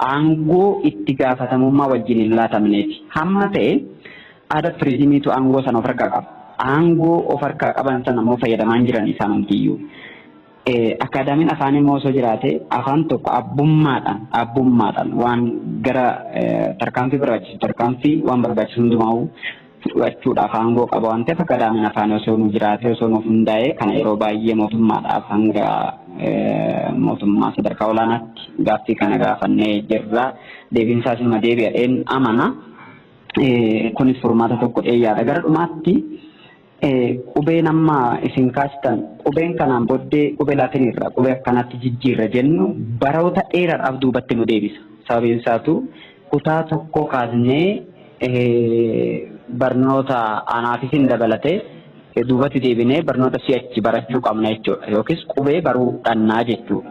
Aangoo itti gaafatamummaa wajjin hin laatamneeti. Hamma ta'e aadaa turizimiitu aangoo sana of harkaa qaba. Aangoo of harkaa qaban sana immoo fayyadamaa hin jiran isaanumtiyyuu. Akkaadaamiin afaanii immoo osoo jiraatee afaan tokko abbummaadhaan abbummaadhaan waan gara tarkaanfii barbaachisu tarkaanfii waan barbaachisu hundumaa'uu fudhachuudhaaf aangoo qaba waan ta'eef akkaadaamiin afaanii osoo nu jiraatee osoo nuuf hundaa'ee kana yeroo baay'ee mootummaadhaaf hanga mootummaa sadarkaa olaanaatti gaaffii kana gaafannee jirra. Deebiin isaas immoo deebi'adheen amana. Kunis furmaata tokko dheeyyaadha. Gara dhumaatti ee qubeen amma isin kaastan qubeen kanaan boddee qube latin irra qube akkanatti jijjiirra jennu baroota dheeradhaaf duubatti nu deebisa sababiin isaatu kutaa tokkoo kaasnee barnoota anaafis hin dabalate duubatti deebinee barnoota si'achi barachuu qabna jechuudha yookiis qubee baruu dhannaa jechuudha.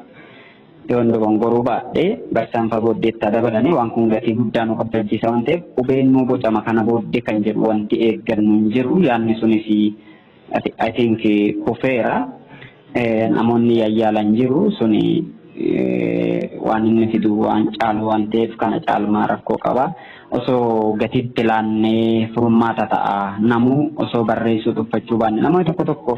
Yoon dogongoruu baadhe, barsaan fa booddee itti haa dabalanii, waan kun gatii guddaa nu kaffalchiisa waan ta'eef qubeen nuu bocama kana booddee kan jedhu wanti eeggannu hin jiru. Yaadni sunis i think kufeera. Namoonni yayyaalan jiru. Suni waan inni fidu waan caalu waan ta'eef kana caalmaa rakkoo qaba. Osoo gatii itti laannee furmaata ta'a. Namuu osoo barreessuu tuffachuu baanne namoonni tokko tokko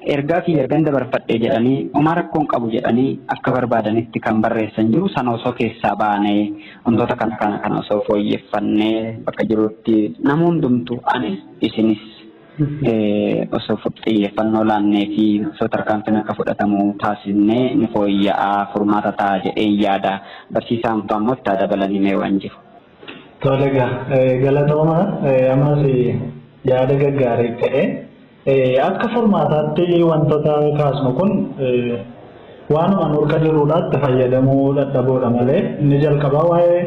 Ergaa kiyya ergan dabarfadhee jedhanii homaa rakkoon qabu jedhanii akka barbaadanitti kan barreessan jiru sana osoo keessaa baanee wantoota kana kana kana osoo fooyyeffannee bakka jirutti nama hundumtu anis isinis osoo xiyyeeffannoo laannee fi osoo tarkaanfiin akka fudhatamu taasisnee ni fooyya'aa furmaata ta'a jedhee yaada barsiisaan fa'aa immoo itti dabalanii mee waan jiru. Tole egaa galatooma ammas yaada gaggaarii ta'e. Akka furmaataatti wantota kaasnu kun waanuma nurka jiruudha itti fayyadamuu dhadhaboodha malee inni jalqabaa waa'ee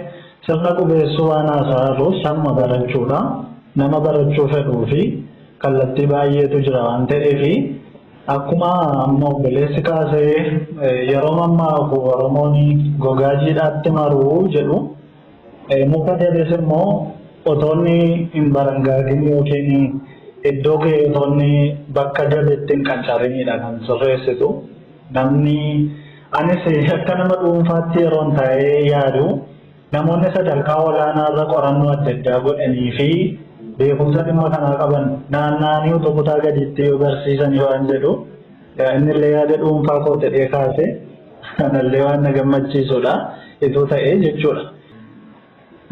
sirna qubeessuu waan haasaa irruuf sanuma barachuudha nama barachuu fedhuu fi kallattii baay'eetu jira waan ta'eef akkuma amma obboleessi kaasee yeroo mammaaku oromoon gogaa jiidhaatti maruu jedhu Muka dabes immoo otoo inni hin barangaagin yookiin iddoo kee otoo inni bakka dabetti hin qancariinidha kan sirreessitu. Namni anis akka nama dhuunfaatti yeroon taa'ee yaadu namoonni sadarkaa olaanaa irra qorannoo adda addaa godhanii fi beekumsa dhimma kanaa qaban naanna'anii utuu kutaa gadiitti yoo barsiisan waan jedhu innillee yaada dhuunfaa koo jedhee kaase. Kanallee waan na gammachiisudha. Ituu ta'ee jechuudha.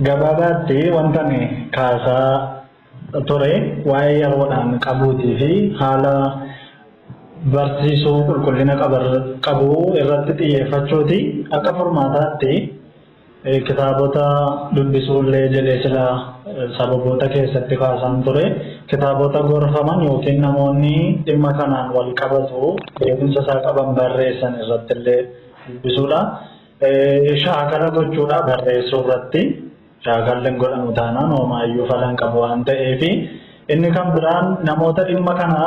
Gabaabaatti wanta ani kaasaa ture waa'ee yeroodhaan qabuutii fi haala barsiisuu qulqullina qabu irratti xiyyeeffachuuti akka furmaataatti Kitaabota dubbisuullee jedhee sila sababoota keessatti kaasaan ture. Kitaabota gorfaman yookiin namoonni dhimma kanaan wal qabatu beekumsa isaa qaban barreessan irrattillee dubbisuudha. Shaakala gochuudha barreessuu irratti. Shaakalli hin godhamu taanaan hoomaayyuu falan qabu waan ta'eef. Inni kan biraan namoota dhimma kana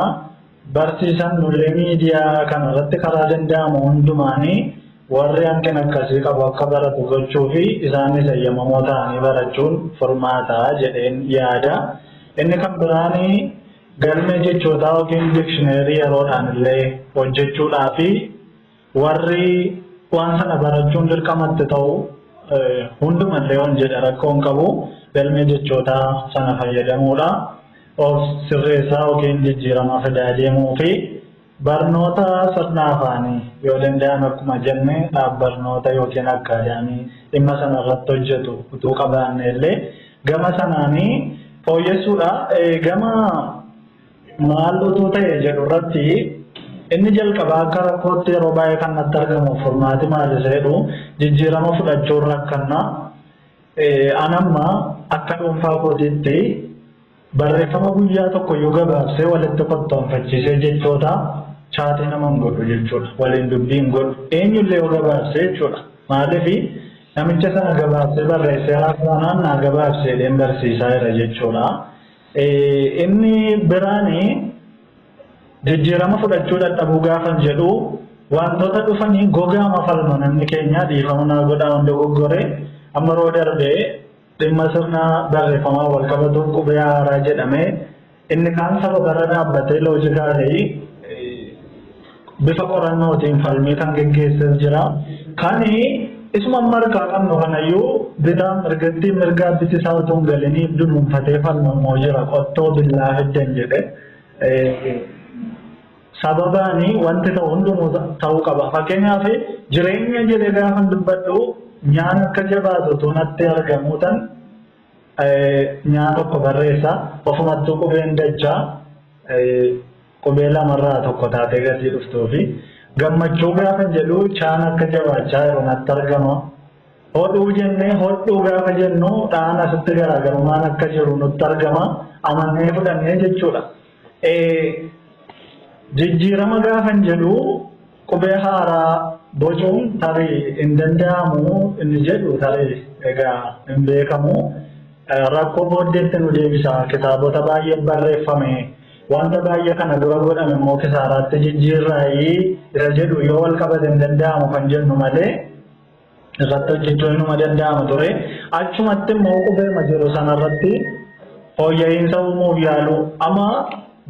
Barsiisan nullee miidiyaa kana irratti karaa danda'amu hundumaan warri hanqina akkasii qabu akka baratu gochuu fi isaanis eeyyamamoo ta'anii barachuun furmaata jedheen yaada. Inni kan biraan galmee jechootaa yookiin dikshineerii yeroodhaan illee hojjechuudhaa fi Warri waan sana barachuun dirqama itti ta'u hundumallee yoon jedhe rakkoo hin qabu galmee jechootaa sana fayyadamuudha. Of sirreessaa yookiin jijjiirama fidaa deemuu fi barnoota sirna afaanii yoo danda'ame akkuma jenne dhaabbarnoota yookiin akkaadaamii dhimma sana irratti hojjetu utuu qabaanne illee gama sanaanii fooyyessuudha. Gama Maal utuu ta'e jedhu irratti inni jalqabaa akka rakkootti yeroo baay'ee kan natti argamu furmaati maal isa jedhu jijjiirama fudhachuun rakkanna. An amma akka dhuunfaa kootiitti barreeffama guyyaa tokko iyyuu gabaabsee walitti kottoonfachiisee jechoota chaatii nama hin godhu jechuudha. Waliin dubbii hin godhu. Eenyullee yoo gabaabsee jechuudha. Maaliif namicha sana gabaabsee barreessee haasa'anaan naa gabaabsee deem barsiisaa jira jechuudha. Inni biraan jijjiirama fudhachuu dadhabuu gaafan jedhu wantoota dhufanii gogaama falma namni keenya dhiifama naa godhaa hunda goggore amma roo darbee dhimma sirna barreeffamaa wal qabatuuf qubee haaraa jedhamee inni kaan sababarra dhaabbatee loojikaa ta'e bifa qorannootiin falmii kan geggeesses jira. Kan isuma amma harkaa qabnu kanayyuu bitaa mirgattiin mirgaa biti isaa utuu hin galinii dunuunfatee falmamoo jira qottoo billaa fiddan jedhe. Sababaani wanti ta'u hundumuu ta'uu qaba. Fakkeenyaaf jireenya jedhee gaafa dubbadhu nyaanni akka jabaatu utuu natti argamuu tan nyaata tokko barreessa ofumattuu qubeen dachaa Qubee lama irraa tokko taatee gatii dhuftuu fi gammachuu gaafa jedhu chaan akka jabaachaa jiru natti argama. Hodhuu jennee hodhuu gaafa jennu dhaan asitti garaagarummaan akka jiru nutti argama. Amannee fudhannee jechuudha. Jijjiirama gaafan jedhu Qubee haaraa bocuun tarii hin danda'amu inni jedhu tarii egaa hin beekamu. Rakkoo booddeetti nu deebisa. Kitaabota baay'ee barreeffame. Wanta baay'ee kana dura godhame immoo kisaaraatti jijjiirraayii isa jedhu yoo wal qabate hin danda'amu kan jennu malee irratti hojjechuun numa danda'ama ture. Achumatti immoo qubeema jiru sanarratti fooyya'iinsa uumuuf yaalu. Amma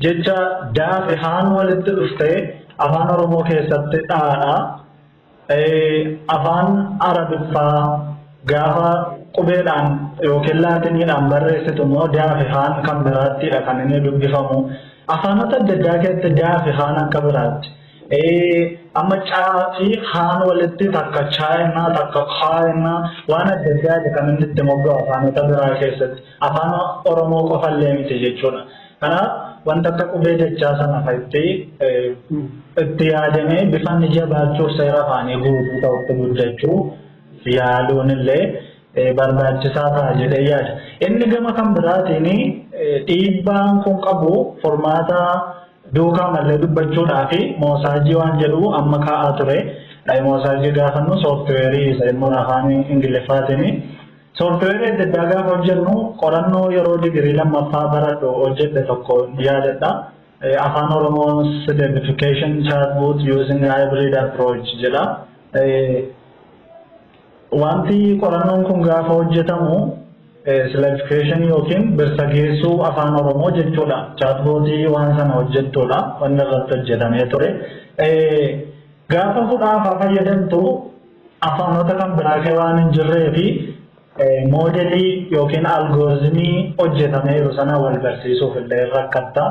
jecha daafi haan walitti dhuftee afaan Oromoo keessatti dhaadha. Afaan Arabiffaa gaafa qubeedhaan yookiin laatiniidhaan barreessitu immoo daafi haan kan biraattiidha kan inni dubbifamu. Afaanota adda addaa keessatti daafi haan akka biraatti. Amma caa fi haan walitti takka chaa jennaa takka kaa jennaa waan adda addaati kan inni itti mogga'u afaanota biraa keessatti afaan Oromoo qofallee miti jechuudha. Kanaaf wanta akka qubee dachaa sana fa'itti itti yaadamee bifa inni jabaachuuf seera afaanii guutuu ta'utti guddachuu yaaluun illee barbaachisaa ta'a jedhee yaada. Inni gama kan biraatiin dhiibbaan kun qabu furmaata duukaa mallee dubbachuudhaa fi moosaajii waan jedhu amma kaa'aa ture. Dhayi moosaajii gaafannu sooftiweerii isa immoo afaan Ingiliffaatiin sooftiweerii adda addaa gaafa hojjennu qorannoo yeroo digirii lammaffaa baradhu hojjedhe tokko yaadadha. Afaan Oromoos identification chatbot using hybrid approach jedha. Wanti qorannoon kun gaafa hojjetamu silajikeeshinii yookiin birsageessuu afaan Oromoo jechuudha. Chaatbootii waan sana hojjettuudha. Wanni irratti hojjetamee ture. Gaafa hudhaafaa fayyadamtu afaanota kan biraa kee waan hin jirree fi moodelii yookiin algoorizimii hojjetameeru sana wal barsiisuuf illee rakkatta.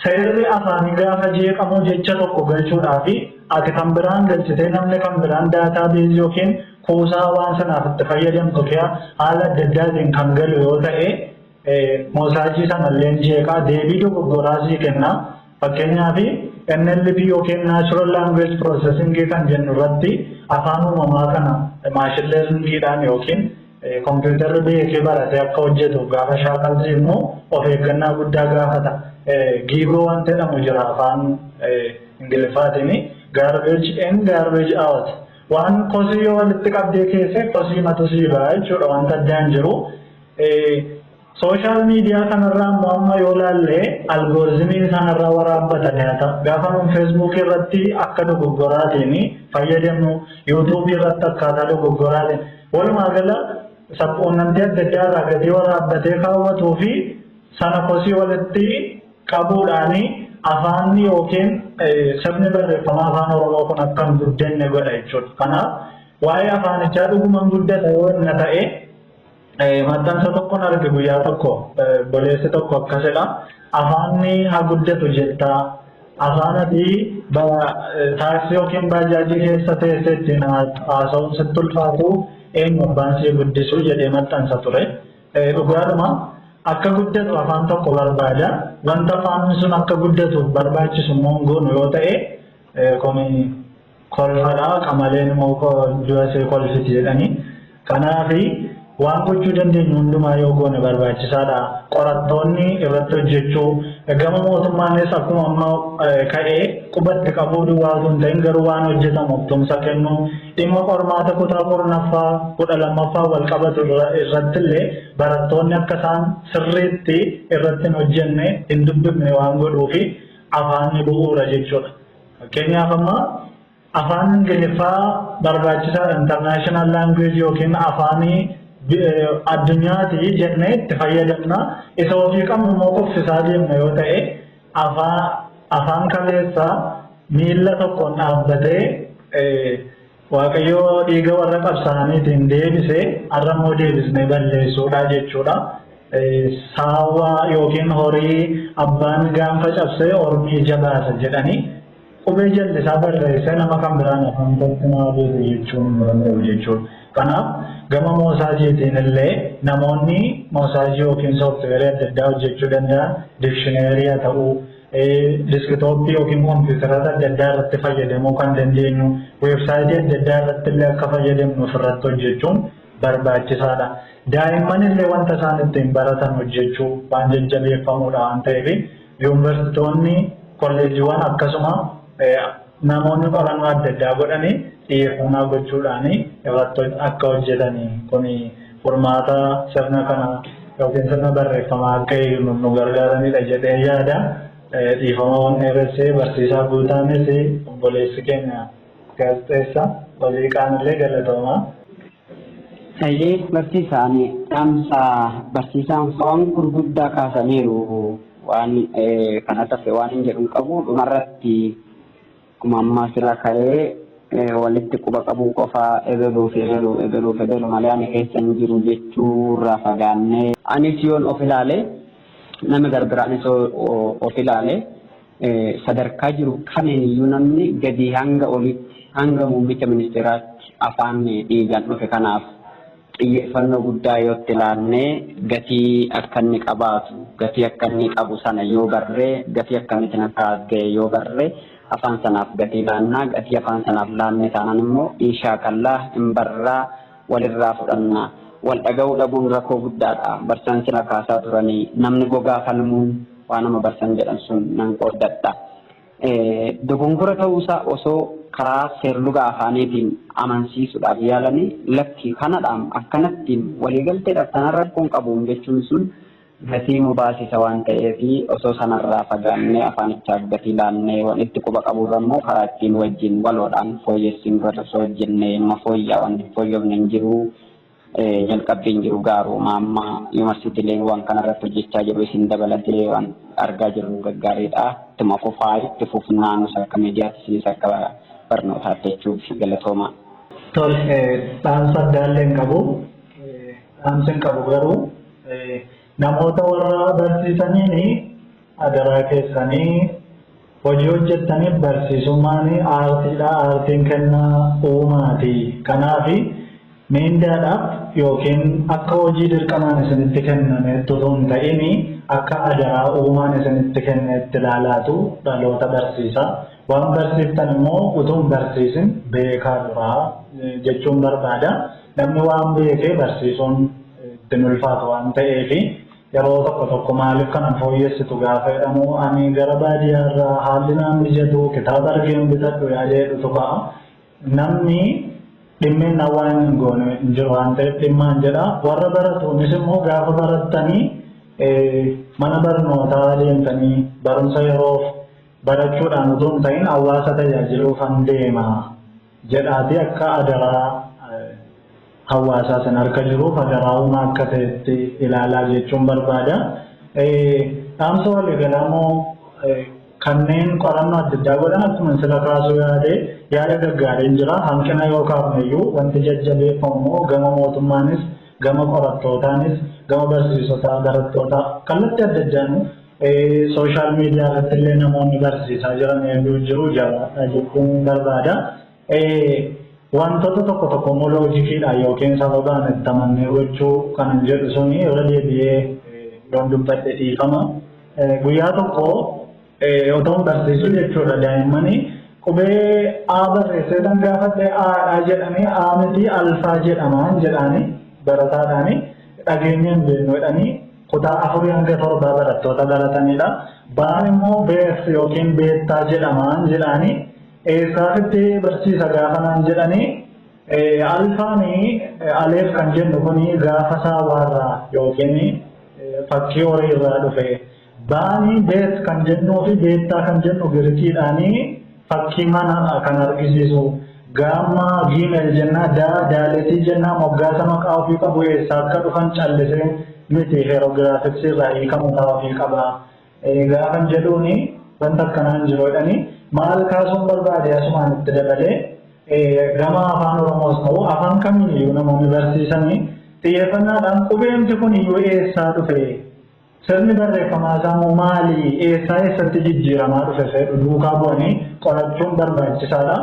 Seerri afaanii gaafa jeeqamu jecha tokko galchuudhaafi ati kan biraan galchitee namni kan biraan daataa beezii yookiin kuusaa waan sanaaf itti fayyadamtu kea haala adda addaatiin kan galu yoo ta'e moosaajii sanalleen jeeqaa deebii dogoggoraa sii kenna. Fakkeenyaaf NLP yookiin Natural Language Processing kan jennu irratti afaan uumamaa kana maashin leerningiidhaan yookiin Kompiitarri biyya kee barate akka hojjetu gaafa shaakaltu immoo of eeggannaa guddaa gaafata. Giigoo wanti jedhamu jira afaan Ingiliffaatiin garbage in garbage out. Waan kosii yoo walitti qabdee keessee kosii matu sii ba'a jechuudha wanta addaan jiru. Social media kanarraa immoo amma yoo laalle algoorzimii isaan irraa waraabbatani haa ta'u gaafa nuun Facebook irratti akka dogoggoraatiin fayyadamnu YouTube irratti akkaataa dogoggoraatiin walumaa gala sabquunnamtii adda addaa irraa gadii waraabbatee kaawwatuu fi sana kosii walitti qabuudhaani afaanni yookiin sirni barreeffama afaan Oromoo kun akka hin guddanne godha jechuudha. Kanaaf waa'ee afaanichaa dhuguman guddata yoo inni ta'e Maxxansa tokkon arge guyyaa tokko boleessi tokko akkas jedha afaanni haa guddatu jettaa afaan ati taaksii yookiin baajaajii keessa teessee ittiin haasa'uun sitti ulfaatu eenyu abbaan sii guddisuu jedhee maxxansa ture. Dhugaadhuma akka guddatu afaan tokko barbaada wanta afaan sun akka guddatuuf barbaachisu immoo hin goonu yoo ta'e komii kolfadha qamaleen moo du'a see kolfiti jedhanii kanaafi waan gochuu dandeenyu hundumaa yoo goone barbaachisaadha qorattoonni irratti hojjechuu gama mootummaanis akkuma amma ka'ee qubatti qabuu duwwaa osoo hin ta'in garuu waan hojjetamuuf tumsa kennuu dhimma qormaata kutaa kurnaffaa kudha lammaffaa wal qabatu irratti illee barattoonni akka isaan sirriitti irratti hin hojjenne hin dubbifne waan godhuufi afaanni bu'uura jechuudha. Fakkeenyaaf amma afaan Ingiliffaa barbaachisaadha international language yookiin afaanii addunyaati jennee itti fayyadamna. Isa ofii qabnu immoo kuffisaa deemna yoo ta'e afaan kaleessaa miila tokkoon dhaabbatee Waaqayyo dhiiga warra qabsaa'aniitiin deebise, har'a immoo deebisnee balleessuudha jechuudha. Saawwa yookiin horii abbaan gaanfa cabsee ormi ija baasa jedhanii qubee jallisaa barreessee nama kan biraan afaan kootti naa beeku jechuun hin danda'u jechuudha. Kanaaf gama moosaajiitiin illee namoonni moosaajii yookiin sooftiweerii adda addaa hojjechuu danda'an dikshineerii haa ta'uu, Diskitooppii yookiin kompiitaroota adda addaa irratti fayyadamuu kan dandeenyu weebsaayitii adda addaa irratti illee akka fayyadamnu ofirratti hojjechuun barbaachisaadha. Daa'imman illee wanta isaan ittiin baratan hojjechuu waan jajjabeeffamudha waan ta'eef yuunivarsiitoonni kolleejiiwwan akkasuma namoonni qorannoo adda addaa godhanii xiyyeeffannaa gochuudhaan irratti akka hojjetan kun furmaata sirna kana ykn sirna barreeffamaa akka hiiknu nu gargaaranidha jedheen yaada. Dhiifama waan dheeresse barsiisaa Guutaanis obboleessi keenya gaazexeessa Oliiqaan illee galatoomaa. Hayyee barsiisa ani dhaamsa barsiisaan waan gurguddaa kaasaniiru waan kana tafe waan hin jedhu hin qabu dhumarratti Akkuma amma asirra ka'ee walitti quba qabuu qofa ebeluu fi ebeluu, ebeluu fi ebelu malee ani keessa hin jiru jechuu irraa fagaannee, anis yoon of ilaale, namni garbiraanis yoo of ilaale sadarkaa jiru kamiin iyyuu namni gadii hanga oliitti hanga muummicha ministeeraatti afaan dhiigaan dhufe kanaaf xiyyeeffannoo guddaa yoo itti laannee gatii akka inni qabaatu, gatii akka inni qabu sana yoo barre, gatii akkamiitiin akka as ga'e yoo barre afaan sanaaf gatii laanna. Gatii afaan sanaaf laanne taanaan immoo in shaakalla, in barra, walirraa fudhanna. Wal dhaga'uu dhabuun rakkoo guddaadha. Barsiisaan sila kaasaa turanii namni gogaa falmuun waanuma barsiisan jedhan sun nan qooddadha. Dogongora ta'uu isaa osoo karaa seerluga afaaniitiin amansiisuudhaaf yaalanii lakki kanadhaam akkanattiim waliigalteedhaaf tanan rakkoo hin qabuum jechuun sun gatii nu baasisa waan ta'eef osoo sanarraa fagaannee afaanichaaf gatii laannee wan itti quba qaburra immoo karaa ittiin wajjin waloodhaan fooyyessinurratti osoo hojjennee numa fooyya'a wanni hin fooyyofne hin jiru. Jalqabbiin jiru gaaruma amma yuunivarsiitiileen waan kana irratti hojjechaa jiru isin dabalatee waan argaa jirru gaggaariidha. Ittuma fufaa itti fufnaa nus akka miidiyaatti isinis akka barnootaatti jechuuf galatooma. Tole dhaamsa addaallee hin qabu. Dhaamsi hin qabu garuu namoota warra barsiisaniin adaraa keessanii Hojii hojjettaniif barsiisummaan aartiidha, aartiin kennaa uumaati. Kanaaf miindaadhaaf yookiin akka hojii dirqamaan isinitti kennameetti utuu hin ta'in akka adaraa uumaan isinitti kenneetti ilaalaatu dhaloota barsiisa. Waan barsiiftan immoo utuu hin barsiisin beekaa duraa jechuun barbaada. Namni waan beekee barsiisuun itti hin ulfaatu waan ta'eef. Yeroo tokko tokko maaliif kana hin fooyyessitu gaafa jedhamu ani gara baadiyyaa irraa haalli naan mijatu kitaaba argeen bitadhu yaada jedhutu ka'a. Namni dhimminnaa waan inni hin goone hin jiru waan ta'eef dhimmaan jedha. Warra baratuunis immoo gaafa barattanii mana barnootaa deemtanii barumsa yeroof barachuudhaan utuu hin ta'in hawaasa tajaajiluufan deema. jedhaatii akka adaraa hawaasaa san harka jiruuf adaraa uumaa akka ta'etti ilaalaa jechuun barbaada. Dhaamsa waliigalaa immoo kanneen qorannoo adda addaa godhan akkuma sila kaasuu yaade yaada gaggaariin jira. Hanqina yoo kaafneyyuu wanti jajjabeeffamu immoo gama mootummaanis gama qorattootaanis gama barsiisotaa barattootaa kallattii adda addaanuu Social media irratti illee namoonni barsiisaa jiran hedduun jiru jabaadhaa jechuun barbaada. Wantoota tokko tokko immoo loojikiidhaan yookiin sababaan itti amannee gochuu kanan jedhu suni irra deebi'ee yoon dubbadhe dhiifama. Guyyaa tokko otoon barsiisu jechuudha daa'immanii qubee A barreessee tan gaafadhe A'dha jedhanii A miti alfaa jedhamaan jedhaanii barataadhaanii dhageenyeen beeknu jedhanii Kutaa 4-7 barattoota baratanidha. Ba'aan immoo beeks yookiin beektaa jedhamaan jedhaanii eessaafitti barsiisa gaafa naan jedhanii alfaanii aleef kan jennu kuni gaafa saawaarraa yookiin fakkii horii irraa dhufe. Ba'anii beet kan jennuu fi beektaa kan jennu girikiidhaanii Fakkii manaa kan argisiisu. Gaamma, Gmail, jennaa daa, daaletii jennaa moggaasa maqaa ofii qabu eessaa akka dhufan callisee miti hieroglyphics irraa hiika mataa ofii qaba. Gaafan jedhuuni wanta akkanaa hin jiru jedhanii maal kaasuun barbaade asumaan itti dabalee gama afaan Oromoos ta'u afaan kamiiniyyuu namoonni barsiisanii xiyyeeffannaadhaan qubeemti kuniyyuu eessaa dhufe Sirni barreeffamaa sammuu maali, eessaa eessatti jijjiiramaa dhufe seedhu duukaa bu'anii qorachuun barbaachisaadha.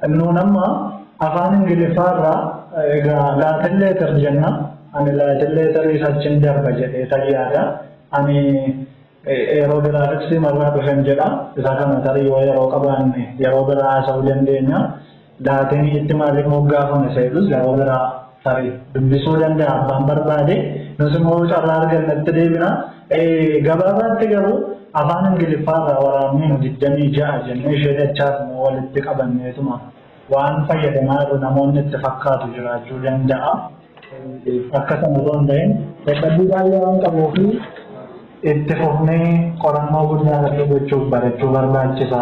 Nuun amma afaan Ingiliffaa irraa egaa Latin letter jenna, ani Latin letteris achin darba jedheetan yaada. Ani Hieroglyphics irraa dhufen jedha. Isa kana tarii yoo yeroo qabaanne yeroo biraa haasa'uu dandeenya. Laateen ishitti maaliif moggaafame isa jedhus yeroo biraa tarii dubbisuu danda'a abbaan barbaade. Nus immoo yoo carraa arganne itti deebina. Gabaabaatti garuu afaan Ingiliffaa irraa waraabnee nu digdamii ja'a jennee ishee dachaas immoo walitti qabanneetuma waan fayyadamaa jirru namoonni itti fakkaatu jiraachuu danda'a. Akka sana osoo hin ta'in dadhabbii baay'ee waan qabuu fi itti fufnee qorannoo guddaa irratti gochuuf barachuu barbaachisa.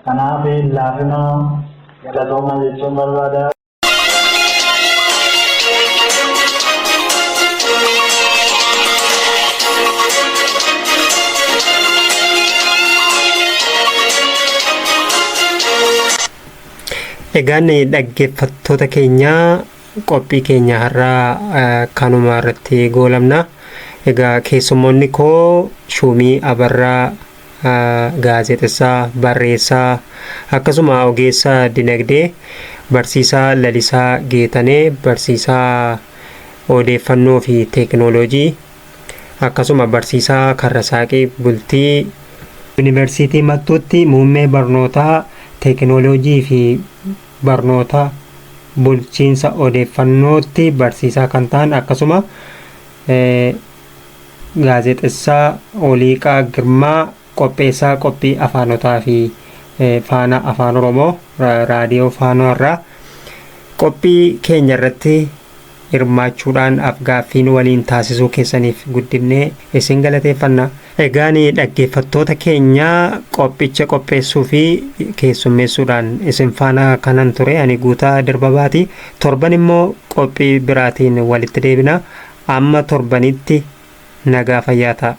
Kanaaf laafina galatoomaa jechuun barbaada. Egaan dhaggeeffattoota keenyaa Qophii keenya har'aa kanuma irratti goolabna. Egaa keessummoonni koo Shuumii Abarraa gaazexessaa, barreessaa akkasuma ogeessa dinagdee barsiisaa Lalisaa Geetanee barsiisaa odeeffannoo fi teekinooloojii akkasuma barsiisaa Karrasaaqii Bultii Yuunivarsiitii Mattuutti muummee barnootaa teekinooloojii fi barnoota bulchiinsa odeeffannootti barsiisaa kan ta'an akkasuma gaazexessaa Oliiqaa Girmaa qopheessaa qophii afaanotaa fi faanaa afaan Oromoo raadiyoo faanoo irraa qophii keenya irratti hirmaachuudhaan afgaaffiin waliin taasisuu keessaniif guddifnee isin galateeffanna. Egaan dhaggeeffattoota keenya qophicha qopheessuu fi keessummeessuudhaan isin faana kanan ture ani Guutaa Dirbabaati. Torban immoo qophii biraatiin walitti deebina. Amma torbanitti nagaa fayyaa ta'a.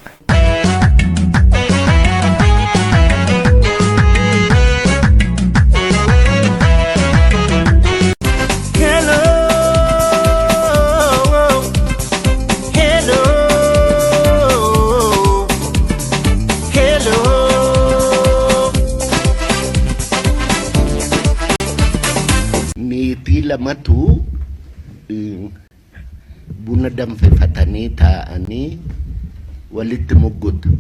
meetii lamatu Buna danfifatanii taa'anii walitti muggutu.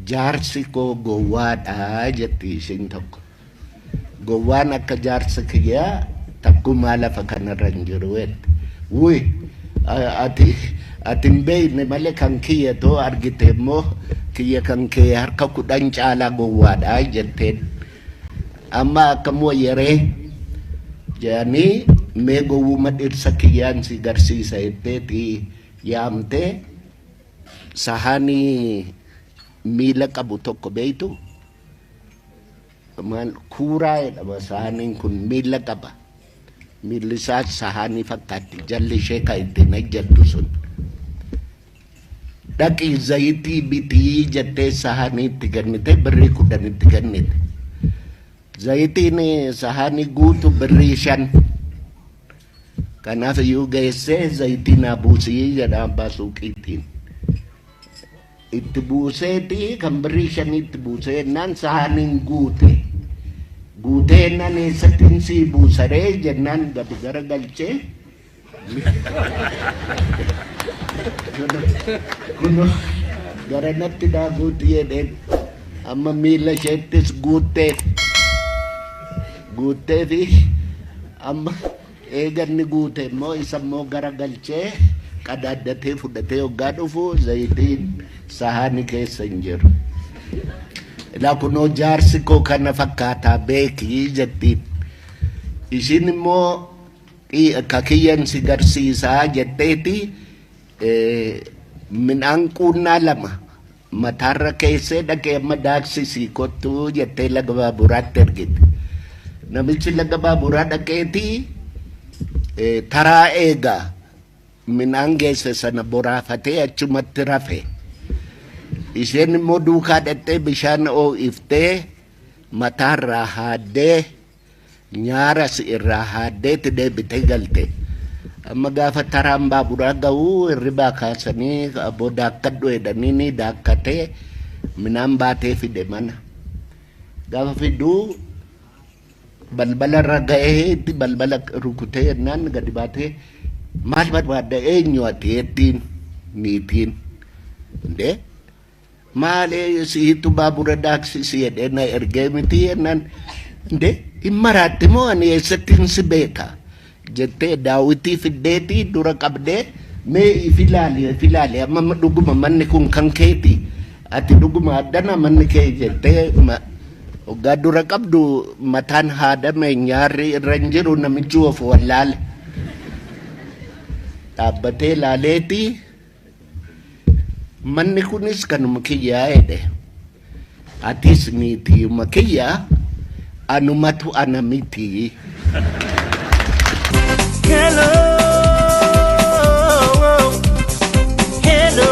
Jaarsi koo gowwaadha jetti ishiin tokko. Gowwaan akka jaarsi kiyyaa takkumaa lafa kanarra hin jiru jette. Wuy ati ati hin beekne malee kan kiyya too argite immoo kiyya kan kee harka kudhan caalaa gowwaadha jetteen. Amma akkam wayya ree? jedhanii mee gowwuma dhirsa kiyyaan si garsiisa jetteeti yaamtee sahaanii miila qabu tokko beektu maal kuuraa jedhama sahaaniin kun miila qaba. Miilli isaa sahaanii fakkaatti jalli ishee kan ittiin hojjettu sun. Dhaqi zayitii bitii jettee sahanii itti kennite birrii kudhan itti kennite. Zayitiin sahanii guutu birrii shan. Kanaaf iyyuu geessee zayitii naa buusii jedha abbaa suuqiitiin. Itti buuseeti kan birrii shanii itti buusee jennaan sahaniin guute. Guutee jennaan eessattiin sii buusaree jennaan gadi gara galchee. Kun garanatti naa guutti jedheen amma miila isheettis guutteef guuttee fi amma eeganni guute immoo isa immoo gara galchee qadaaddatee fudhatee hoggaa dhufu zayitiin sahaani keessa hin jiru. Ilaa kunoo jaarsi koo kana fakkaataa beekii jettiin. Ishiin immoo Ka kiyyan si garsiisa jetteeti midhaan quunnaa lama mataarra keessee dhaqii amma daaksisii kottu jettee laga baaburaatti ergite. Namichi laga baaburaa dhaqeeti taraa eega midhaan geesse sana boraafatee achumatti rafe. Isheen immoo duukaa dhaqxee bishaan oo'iftee mataarraa haaddee. Nyaara si irraa haaddeeti deebitee galte. Amma gaafa taraan baaburaa ga'u hirribaa kaasanii aboo daakkadhu jedhanii ni daakkate minaan baatee fide mana. Gaafa fidu balbala irra ga'ee itti balbala rukutee jennaan gadi baatee maal barbaadda eenyu ati jettiin niitiin. Indee Maalee siitu baabura daaksi si jedhee na ergee miti jennaan indee hin maraatte moo ani eessattiin si beeka jettee daawitii fiddeetii dura qabdee mee if ilaali if ilaali amma dhuguma manni kun kan keeti ati dhuguma addana manni kee jettee hoggaa dura qabdu mataan haadame nyaarri irra hin jiru namichi of wallaale dhaabbatee ilaaleetii Manni kunis kanuma kiyyaa jedhe. Atis niitiima kiyya anumatu ana miti. Hello, hello.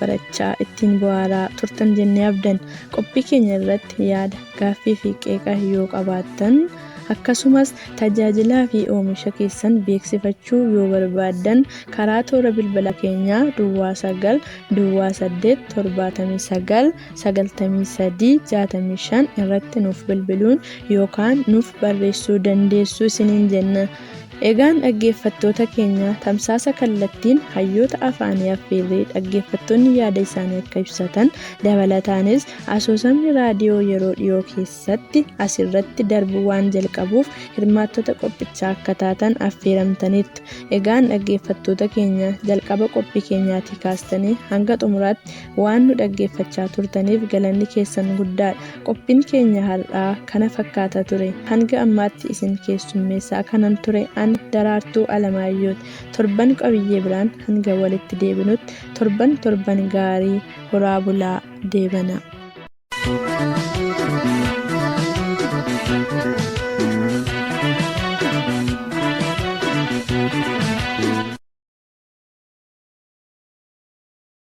barachaa ittiin bu'aaraa turtan jennee abdan qophii keenya irratti yaada gaaffii fi qeeqa yoo qabaattan akkasumas tajaajilaa fi oomisha keessan beeksifachuu yoo barbaaddan karaa toora bilbila keenyaa duwwaa 9 duwwaa 8 79 93 65 irratti nuuf bilbiluun yookaan nuuf barreessuu dandeessu isiniin jenna Egaan dhaggeeffattoota keenya tamsaasa kallattiin hayyoota afaanii affeerree dhaggeeffattoonni yaada isaanii akka ibsatan dabalataanis asoosamni raadiyoo yeroo dhiyoo keessatti asirratti darbuu waan jalqabuuf hirmaattota qophichaa akka taatan affeeramtaniirtu. Egaan dhaggeeffattoota keenya jalqaba qophii keenyaatii kaastanii hanga xumuraatti Waan nu dhaggeeffachaa turtaniif galanni keessan guddaadha. Qophiin keenya har'aa kana fakkaata ture. Hanga ammaatti isin keessummeessaa kanan ture an Daraartuu Alamaayyooti. Torban qabiyyee biraan hanga walitti deebinutti torban torban gaarii horaa bulaa deebanaa.